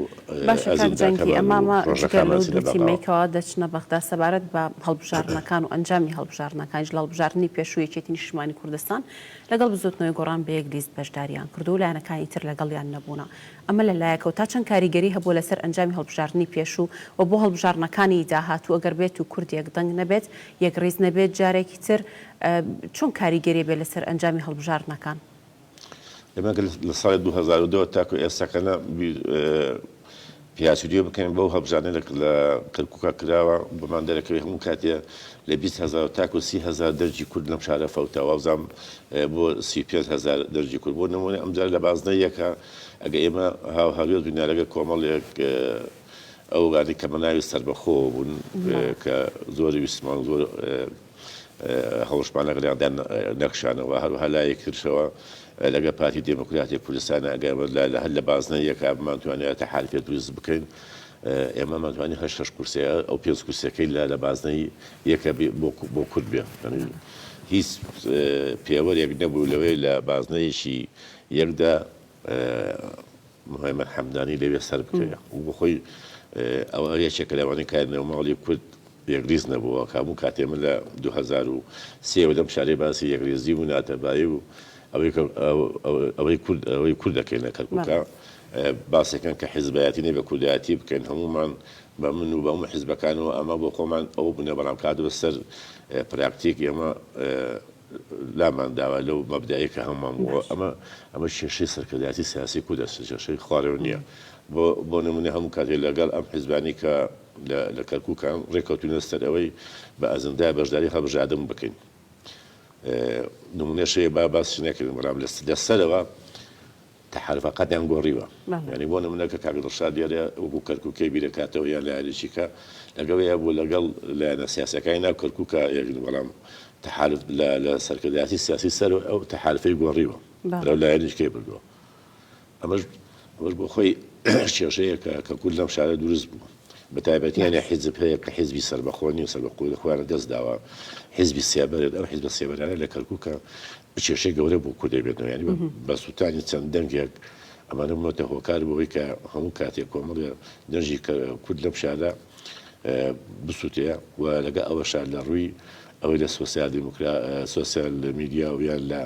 ئەزموونەکان و پرۆژەکانمان چینە بەغا. ئەمانە دوو تیمەی کە دەچنە بەغدا سەبارەت بە هەڵبژاردنەکان و ئەنجامی هەڵبژاردنەکانیش لە هەڵبژاردنی پێشووی یەکێتی نیشتیمانی کوردستان، لەگەڵ بزوتنەوەی گۆڕان بە یەک لیست بەشداریان کردووە و لایەنەکانی تر لەگەڵیان نەبوونە. ئەمە لە لایەکەوە تا چەند کاریگەری هەبووە لەسەر ئەنجامی هەڵبژاردنی پێشوو و بۆ هەڵبژاردنەکانی داهاتوو گەر بێت و کورد یەک دەنگ نەبێت، یەک ریز نەبێت جارێکی تر چۆن کاریگەری بێت لەسەر ئەنجامی هەڵبژاردنەکان؟ ئێمە گەر لە ساڵی دوو هەزار و دە وە تاکو ئێستا کە نا پیاچریو بکەین بەو هەڵبژاردنەی لە کەرکوکا کراوە بۆمان دەرەکەوێت هەموو کاتێ لە بیست هەزار تاکو سی هەزار دەرجی کورد لەم شارە فەوتا وابزام بۆ سی و پێنج هەزار دەرجی کورد بۆ نمونە ئەمجار لە بازنە یەکە ئەگە ئێمە هاو هاوێز بین لەگە کۆمەڵێک ئەو گانی کە بەناوی سەربەخۆوە بوون کە زۆر ویستمان زۆر هەوڵشمان لەگەڵ یاندا نەکشانەوە، هەروەها لایەکیترشەوە لەگەڵ پارتی دێموکراتی کوردستان ئەگەر لە هەر لە بازنە یەکا بمانتوانێ تەحالفێ دروست بکەین، ئێمە ئەمانتوانی هەر شەش کورسیە ئەو پێنج کورسیەکەی لە لە بازنەی یەکە بێ بۆ بۆ کورد بێ یانی هیچ پێوەرێک نەبوو لەوەی لە بازنەیەکی یەکدا مهێمن حەمدانی لەوێ سەربکەوێ و بەخۆی ئەوە یەکێکە لەوانەی کە نێوماڵی کورد یەکریز نەبووە کە هەموو کاتێ من لە دوو هەزار و سێ لەم شارەی باسی یەکریزی و ناتەبایی و ئەوەی کورد ئەوەی کورد دەکەین لە کەرکووکە باسەکەن کە حیزبایەتی نەبێ کوردایەتی بکەین هەمومان بە من و بە هەموو حیزبەکانەوە ئەمە بۆ خۆمان ئەوە بوونە بەڵام کاتەوە سەر پراکتیک ئێمە لامان داوە لەو مەبدەئەی کە هەموومان بوو. ئەمە ئەمە کێشەی سەرکردایەتی سیاسی کوردە، کێشەی خوارەوە نییە. بۆ بۆ نموونە هەموو کاتێ لەگەڵ ئەم حیزبانەی کە لە لە کەرکووکان ڕێککەوتووینە سەر ئەوەی بە ئەجندای بەشداری هەڵبژاردن بکەین. نموونەش هەیە با باسی نەکەین، بەڵام لە لە سەرەوە، تەحەرفەقاتیان گۆڕیوە یانی بۆ نمونە کە کاک دڵشاد دیارە وەکو کەرکوکی بیرەکاتەوە یان لایەنێکی کە لەگەڵ یا بوو لەگەڵ لایەنە سیاسەکانی ناو کەرکوکا یەکن بەڵام تەحالف لە لە سەرکردایەتی سیاسی سەر ئەو تەحالفەی گۆڕیوە بەرەو لایەنێکی کەی بردوە ئەمەش ئەمەش بۆ خۆی کێشەیە کە کە کورد لەم شارە دروست بوو بە تایبەتی یانی حیزب هەیە کە حیزبی سەربەخۆنی و سەربەخۆی خۆیان دەست داوە حیزبی سێبەرێت ئەو حیزبە سێبەرانە لە کەرکوکە کێشەی گەورە بۆ کورد دەبێتەوە یانی بە سوتانی چەند دەنگێک ئەمانە بوونەتە هۆکار بەوەی کە هەموو کاتێک کۆمەڵێ دەنجی کورد لەم شارە بسووتەیە و لەگە ئەوە شار لە ڕووی ئەوەی لە سوسیال دیموکرا سوسیال لە میدیا و یان لە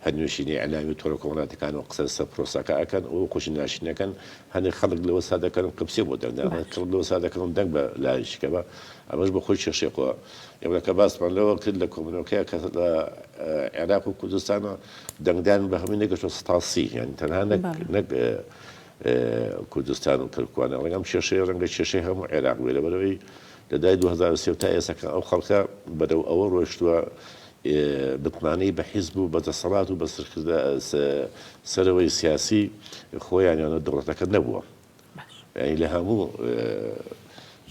هەرنوێشینی ئەلامی تۆڕە کۆمەڵاتەکان و قسە سە پرۆساکە ئەکەن ئەو خۆشی ناشینەکەن هەنێک خەڵک لەوە سا دەکەن قبسێ بۆ دەنگ دان، هەنێک خەڵک لەوە سا دەکەن دەنگ بە لایەن شکەبا، ئەمەش بۆ خۆی کێشەی خۆ ئێمە کە باسمان لەوە کرد لە کۆبوونەوەکەیا کە لە عێراق و کوردستانا دەنگدان بە هەمووی نەگەشتوە سەتا سی، یانی تەنها نەک نەک کوردستان و کەرکوانە، ڕەنگە ئەم کێشەیە ڕەنگە کێشەی هەموو عێراق بێ لەبەرئەوەی لە دوای دوو هەزار و سێ و تا ئێستا کە ئەو خەڵکە بەرەو ئەوە ڕۆشتوە متمانەی بە حیزب و بە دەسەڵات و بە سەرەوەی سیاسی خۆیان یان دەوڵەتەکە نەبووە یانی لە هەموو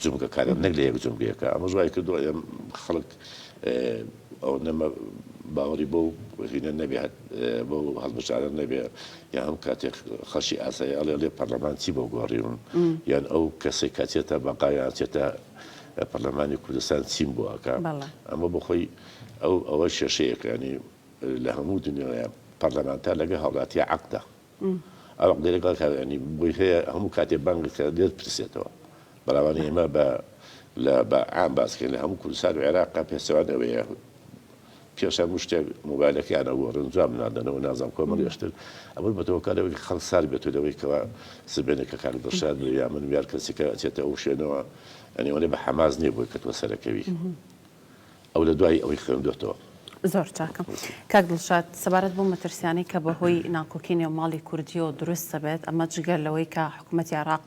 جومگەکانە نەک لە یەک جومگەیەکە ئەمەش وای کردووە ئێم خەڵک ئەو نەمە باوەڕی بۆ هینە نەبێت بۆ هەڵبژارە نەبێ یا هەم کاتێک خەشی ئاساییاڵێ لێ پەرلەمان چی بۆ گۆڕیون یان ئەو کەسێک کاتێتە بەقایان چێتە پەرلەمانی کوردستان چیم بۆ ئەکا بەڵێ. ئەمە بۆ خۆی ئەو ئەوە کێشەیەکە یانی لە هەموو دنیایا پەرلەمانتار لەگەڵ هاوڵاتیا عەقدە ئەو عەقدەی لەگەڵ کە یانی بۆی هەیە هەموو کاتێ بانگت کرد دێت پرسێتەوە بەڵام یانی ئێمە بە لە بە عام باس کەین لە هەموو کوردستان و عێراق پێچەوانەوەیە پێش هەموو شتێک مۆبایلەکەیان ئەگۆڕن جواب نادەنەوە نازانم کۆمەڵی ئەشتر ئەمەش بەتۆ هۆکار لەوەی کە خەڵک سارد بێتەوە لەوەی کەوا سبەینێ کە کاک دڵشاد بێ یا من یار کەسێکە ئەچێتە ئەو شوێنەوە یانی ئەوەنە بە حەماس نییە بۆی کە تۆ سەرەکەوی ئەو لە دوای ئەوەی خوێندۆتەوە. زۆر چاکە کاک دڵشاد، سەبارەت بەو مەترسیانەی کە بەهۆی ناکۆکی نێو ماڵی کوردییەوە دروست دەبێت ئەمە جگە لەوەی کە حکوومەتی عێراق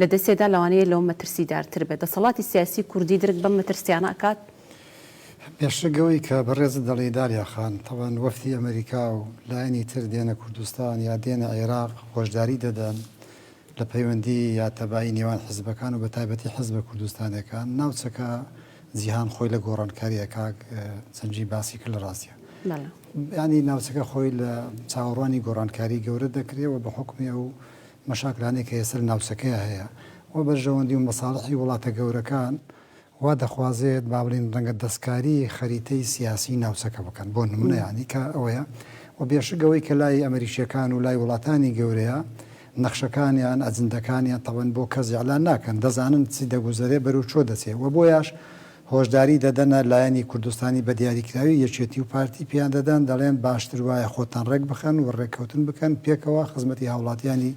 لە دەستێدا لەوانەیە لەوە مەترسیدارتر بێت دەسەڵاتی سیاسی کوردی درک بەم مەترسیانە ئەکات؟ بێشک ئەوەی کە بەڕێزت دەڵێی دالیا خان، تەبعەن وەفدی ئەمەریکا و لایەنی تر دێنە کوردستان یا دێنە عێراق هۆشداری دەدەن لە پەیوەندی یا تەبایی نێوان حیزبەکان و بەتایبەتی حیزبە کوردستانیەکان ناوچەکە جیهان خۆی لە گۆڕانکاریە کاک جەنگی باسی کرد لە ڕاستیا یانی ناوچەکە خۆی لە چاوەڕوانی گۆڕانکاری گەورە دەکرێ و بە حکومی ئەو مەشاکلانەی کە ئێستا لە ناوچەکەیا هەیە و بەرژەوەندی و مەساڵحی وڵاتە گەورەکان وا دەخوازێت با بڵێین ڕەنگە دەستکاری خەریتەی سیاسی ناوچەکە بکەن بۆ نمونە یانی کە ئەوەیە و بێشک ئەوەی کە لای ئەمریکیەکان و لای وڵاتانی گەورەیە نەخشەکانیان ئەجندەکانیان تەبەن بۆ کەس ئیعلان ناکەن دەزانن چی دەگوزەرێ بەرو چۆ دەچێ و بۆیاش هۆشداری دەدەنە لایەنی کوردستانی بە دیاریکراوی یەکێتی و پارتی پێیان دەدەن، دەڵێن باشتر وایە خۆتان ڕێک بخەن و ڕێککەوتن بکەن پێکەوە خزمەتی هاوڵاتیانی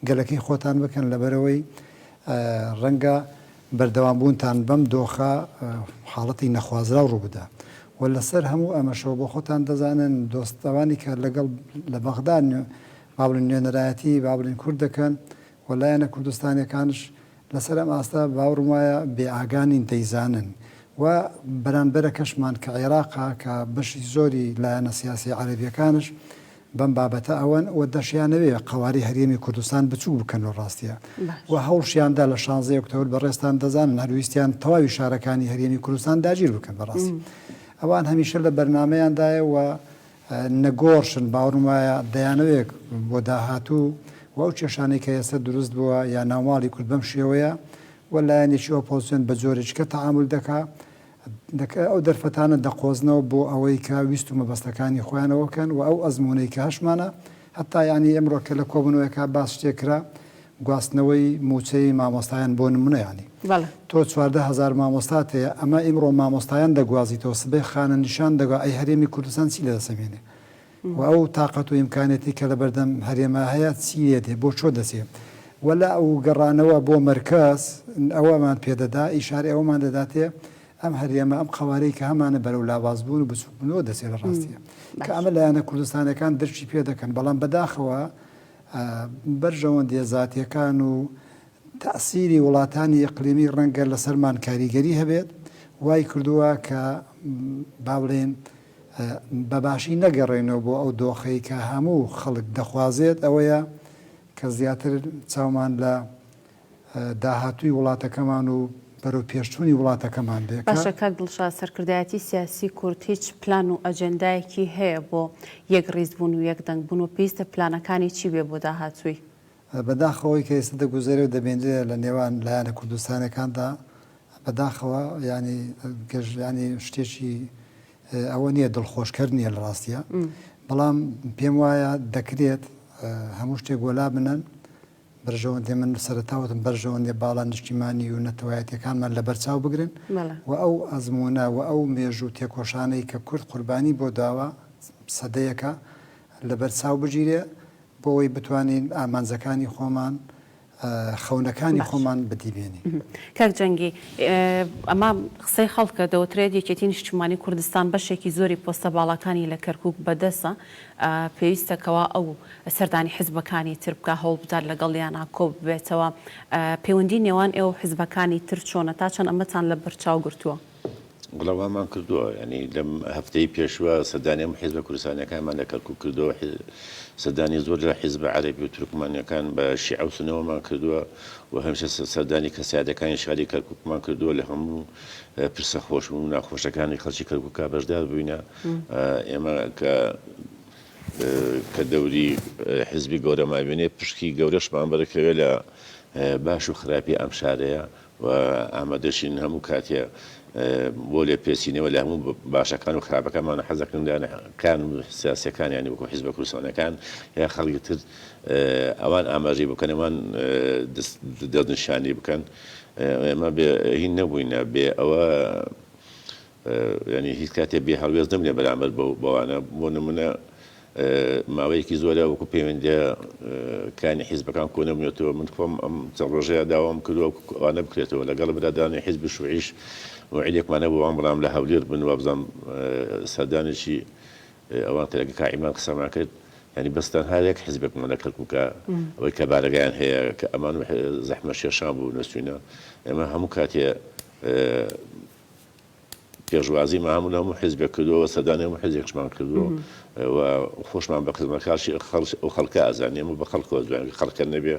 گەلەکەی خۆتان بکەن لەبەرئەوەی ڕەنگە بەردەوام بوونتان بەم دۆخە حاڵەتی نەخوازراو ڕووبدا و لەسەر هەموو ئەمەشەوە بۆ خۆتان دەزانن دۆست ئەوانی کە لەگەڵ لە بەغدا با بڵێن نوێنەرایەتی با بڵێن کورد دەکەن و لایەنە کوردستانیەکانش لەسەر ئەم ئاستە باوڕم وایە بێ ئاگا نین دەیزانن و بەرانبەرەکەشمان کە عێراقە کە بەشی زۆری لایەنە سیاسیە عەرەبیەکانش بەم بابەتە ئەوەن و دەشیانەوێ قەوارەی هەرێمی کوردستان بچوک بکەن لە ڕاستیا و هەوڵشیاندا لە شانزەی ئۆکتۆبر بەڕێزتان دەزانن هەر ویستیان تەواوی شارەکانی هەرێمی کوردستان داگیر بکەن بەڕاستی ئەوان هەمیشە لە بەرنامەیاندایە و نەگۆڕشن، باوەڕم وایە دەیانەوێک بۆ داهاتوو و ئەو کێشانەی کە ئێستا دروست بووە یا ناوماڵی کورد بەم شێوەیە و لایەنێکی ئۆپۆزسیۆن بە جۆرێکی کە تەعامول دەکا دەکا ئەو دەرفەتانە دەقۆزنەوە بۆ ئەوەی کە ویست و مەبەستەکانی خۆیان ئەوە بکەن و ئەو ئەزموونەی کە هەشمانە هەتایانی ئمڕۆ کە لە کۆبونەوەیەکا باس شتێک کرا گواستنەوەی موچەی مامۆستایان بۆ نمونە یانی تۆ چواردە هەزار مامۆستات هەیە ئەمە ئمڕۆ مامۆستایان دەگوازیتەوە سبەی خانە نیشان دەگا ئەی هەرێمی کوردستان چی لەدەست ئەمێنێ و ئەو تاقەت و ئیمکانێتی کە لەبەردەم هەرێما هەیە چی لێ دێ بۆ چۆ دەچێ وەلا ئەو گەڕانەوە بۆ مەرکەز ئەوەمان پێدەدا ئیشارەی ئەوەمان دەداتێ ئەم هەرێمە ئەم قەوارەی کە هەمانە بەرەو لاوازبوون و بچووکبوونەوە دەچێت لە ڕاستیە کە ئەمە لایەنە کوردستانەکان درکی پێ دەکەن بەڵام بەداخەوە بەرژەوەندیە زاتیەکان و تەسیری وڵاتانی ئەقلیمی ڕەنگە لەسەرمان کاریگەری هەبێت وای کردووە کە با بڵێن بەباشی نەگەڕێنەوە بۆ ئەو دۆخەی کە هەموو خەڵک دەخوازێت ئەوەیە کە زیاتر چاومان لە داهاتووی وڵاتەکەمان و بەرەو پێشچوونی وڵاتەکەمان بێکە. باشە کاک دڵشاد سەرکردایەتی سیاسی کورد هیچ پلان و ئەجێندایەکی هەیە بۆ یەک ڕیز بوون و یەک دەنگ بوون و پێویستە پلانەکانی چی بێ بۆ داهاتووی؟ بەداخەوە ئەوەی کە ئێستا دەگوزەرێ و دەبینرێ لە نێوان لایەنە کوردستانیەکاندا بەداخەوە یانی گەش یانی شتێکی ئەوە نیە دڵخۆشکەر نیە لە ڕاستیە بەڵام پێم وایە دەکرێت هەموو شتێک وەلا بنەن بەرژەوەندێ من سەرەتا وتم بەرژەوەندێ باڵا نیشتیمانی و نەتەوایەتیەکانمان لە بەرچاو بگرن و ئەو ئەزموونە و ئەو مێژوو تێکۆشانەی کە کورد قوربانی بۆ داوە سەدەیەکە لە بەرچاو بگیرێ بۆوەی بتوانین ئامانجەکانی خۆمان خەونەکانی خۆمان بەدی بێنین. کاک جەنگی ئەمە قسەی خەڵکە دەوترێت یەکێتی نیشتیمانی کوردستان بەشێکی زۆری پۆستە باڵاکانی لە کەرکوک بەدەسە پێویستە کەوا ئەو سەردانی حزبەکانی تر بکا هەوڵ بدات لەگەڵیانا کۆ ببێتەوە، پێوەندی نێوان ئێوەو حزبەکانی تر چۆنە تا چەند ئەمەتان لە بەر چاو گرتووە؟ وەڵا وامان کردووە یانی لەم هەفتەی پێشوە سەردانی هەموو حزبە کوردستانیەکانمان لە کەرکوک کردووە سەردانی زۆر لە حزبە عەرەبی و تورکمانیەکان بە شیعە و سونەوەمان کردووە و هەمیشە سەردانی کەسایەتەکانی شاری کەرکوکمان کردووە لە هەموو پرسە خۆش و ناخۆشەکانی خەڵکی کەرکوکا بەشدار بووینە. ئێمە کە کە دەوری حزبی گەورە مابێنێ پشکی گەورەشمان بەرکەوێ لە باش و خراپی ئەم شارەیە و ئامادەشین هەموو کاتێ بۆ لێ پێسینەوە لە هەموو باشەکان و خراپەکانمان حەزەکەندان کان و سیاسەکانیانی وەکو حزبە کوردستانەکان یا خەڵکی تر ئەوان ئاماژەی بکەنەوان دەستنیشانی بکەن ئێمە هین نەبووینە بێ ئەوە یانی هیچ کاتێ بێ هەڵوێست نەبنە بەرامبەر بەوانە، بۆ نمونە ماوەیەکی زۆرە وەکو پەیوەندیە کانی حیزبەکان کۆ نەبنێتەوە، من خۆم ئەم چەند ڕۆژەیە داوام کردوە وەکو ئەوانە بکرێتەوە، لەگەڵ برادرانی حیزبی شوعیش موعیدێکمان هەبوو ئەوان بەڵام لە هەولێر بن وابزانم سەردانێکی ئەوان کرا کە کاک عیماد قسەمان کرد، یانی بەس تەنها یەک حیزبێکمان لە کەرکوکە ئەوەی کە بارەگایان هەیە کە ئەمان و زەحمەت شێرشان بوو نەچوینە، ئێمە هەموو کاتێ. پێشوازیمان هەموو لە هەموو حیزبێک کردووە و سەردانی هەموو حیزێکشمان کردووە و خۆشمان بە خزمەتکارشی خەڵک ئەو خەڵکە ئازانێ ئەمە بە خەڵکەوە جوانێ خەڵکە نەبێ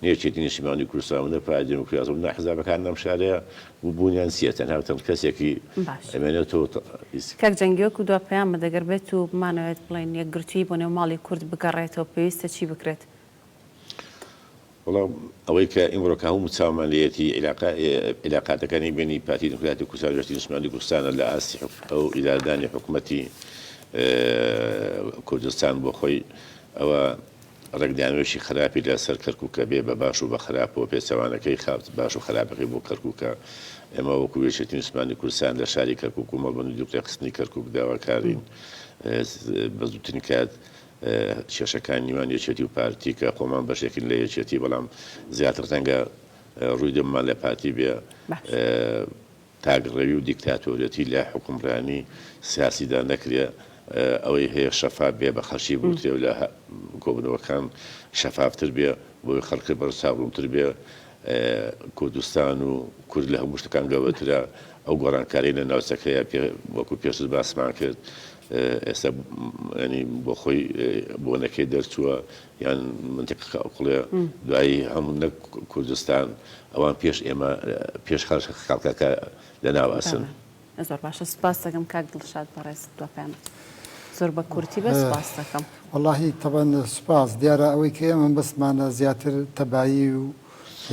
نەیەکێتی نیشتمانی کوردستان و نە پارتی دیموکرات و نە حزبەکان لەم شارەیە بوونیان چییە تەنها و تەنها کەسێکی باش. ئەمێنێتەوە تا- ئیس- کاک جەنگی وەکو دوا پەیامە دەگەر بێت و بمانەوێت بڵێین یەکگرتوویی بۆ نێو ماڵی کورد بگەڕێتەوە پێویستە چی بکرێت؟ وەڵا ئەوەی کە ئیمڕۆ کە هەموو چاومان لێیەتی عیلاقاتەکانی بەینی پارتی دیموکراتی کوردستان و یەکێتی نیشتمانی کوردستانە لە ئاستی ئەو ئیدارەدانی حکوومەتی کوردستان بۆ خۆی ئەوە ڕێکدانەوەیەکی خراپی لەسەر کەرکووکە بێ بە باش و بە خراپەوە پێچەوانەکەی خاوت باش و خراپەکەی بۆ کەرکووکە ئێمە وەکو یەکێتی نیشتمانی کوردستان لە شاری کەرکووک و مەڵبەند و دوورخستنی کەرکووک داواکارین بە زووترین کات کێشەکان نیوان یەکێتی و پارتی کە خۆمان بەشێکین لە یەکێتی بەڵام زیاتر ڕەنگە ڕووی دەممان لە پارتی بێ تاکڕەوی و دیکتاتۆرێتی لە حوکمڕانی سیاسیدا نەکرێ ئەوەی هەیە شەفاف بێ بە خەڵکی بوترێ و لە کۆبوونەوەکان شەفافتر بێ بۆی خەڵکی بەرز چاوڕوونتر بێ کوردستان و کورد لە هەموو شتەکان گەورەترە ئەو گۆڕانکاریە لە ناوچەکەیە وەکو پێشتر باسمان کرد ئێستا ینی بۆخۆی بۆنەکەی دەرچووە یان منتەکە کاوکڵێ دوایی هەموو نەک کوردستان ئەوان پێش ئێمە پێش خەش خەڵکەکە لە ناواسن زۆر باشە سپاس دەکەم کاک دڵشاد بەڕێز دوپامەت زۆر بە کورتی بە سپاس دەکەم وڵی تەبەن سپاس دیارە ئەوەی کە ئێمە بەسمانە زیاتر تەبایی و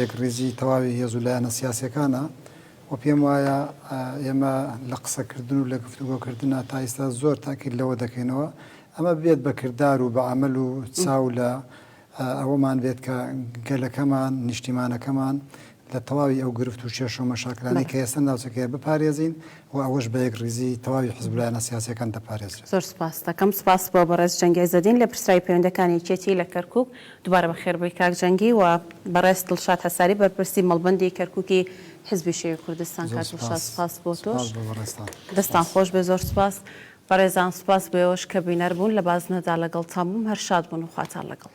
یەک ڕیزی تەواوی هێزولایەنە سیاسەکانە وە پێم وایە ئێمە لە قسەکردن و لە گفتوگۆ کردنا تا ئیستا زۆر تاکید لەوە دەکەینەوە ئەمە ببێت بە کردار و بە عەمەل و چاو لە ئەوەمان بێت کە گەلەکەمان، نیشتیمانەکەمان لە تەواوی ئەو گرفت و کێشە و مەشاکلانەی کە ئێستا ناوچەکەیە بپارێزین و ئەوەش بە یەکڕیزی تەواوی حزب و لایەنە سیاسیەکان دەپارێزرێت. زۆر سپاست دەکەم. سپاس بۆ بەڕێز جەنگی عیزەدین لە پرسراوی پەیوەندەکانی یەکێتی لە کەرکوک. دوبارە بەخێر بێی کاک جەنگی و بەڕێز دڵشاد هەساری بەرپرسی مەڵبەندی کەرکوکی حیزبی شیوعی کوردستان زۆر کاک دڵشاد سوپاس سوپاس بۆ سوپاس تۆش بۆ بەڕێزتان دەستتان سوپاس. خۆش بێ زۆر سوپاس بەڕێزان سوپاس بۆ ئێوەش کە بینەر بوون لە بازنەدا لەگەڵتان بووم هەر شاد بن و خواتان لەگەڵ.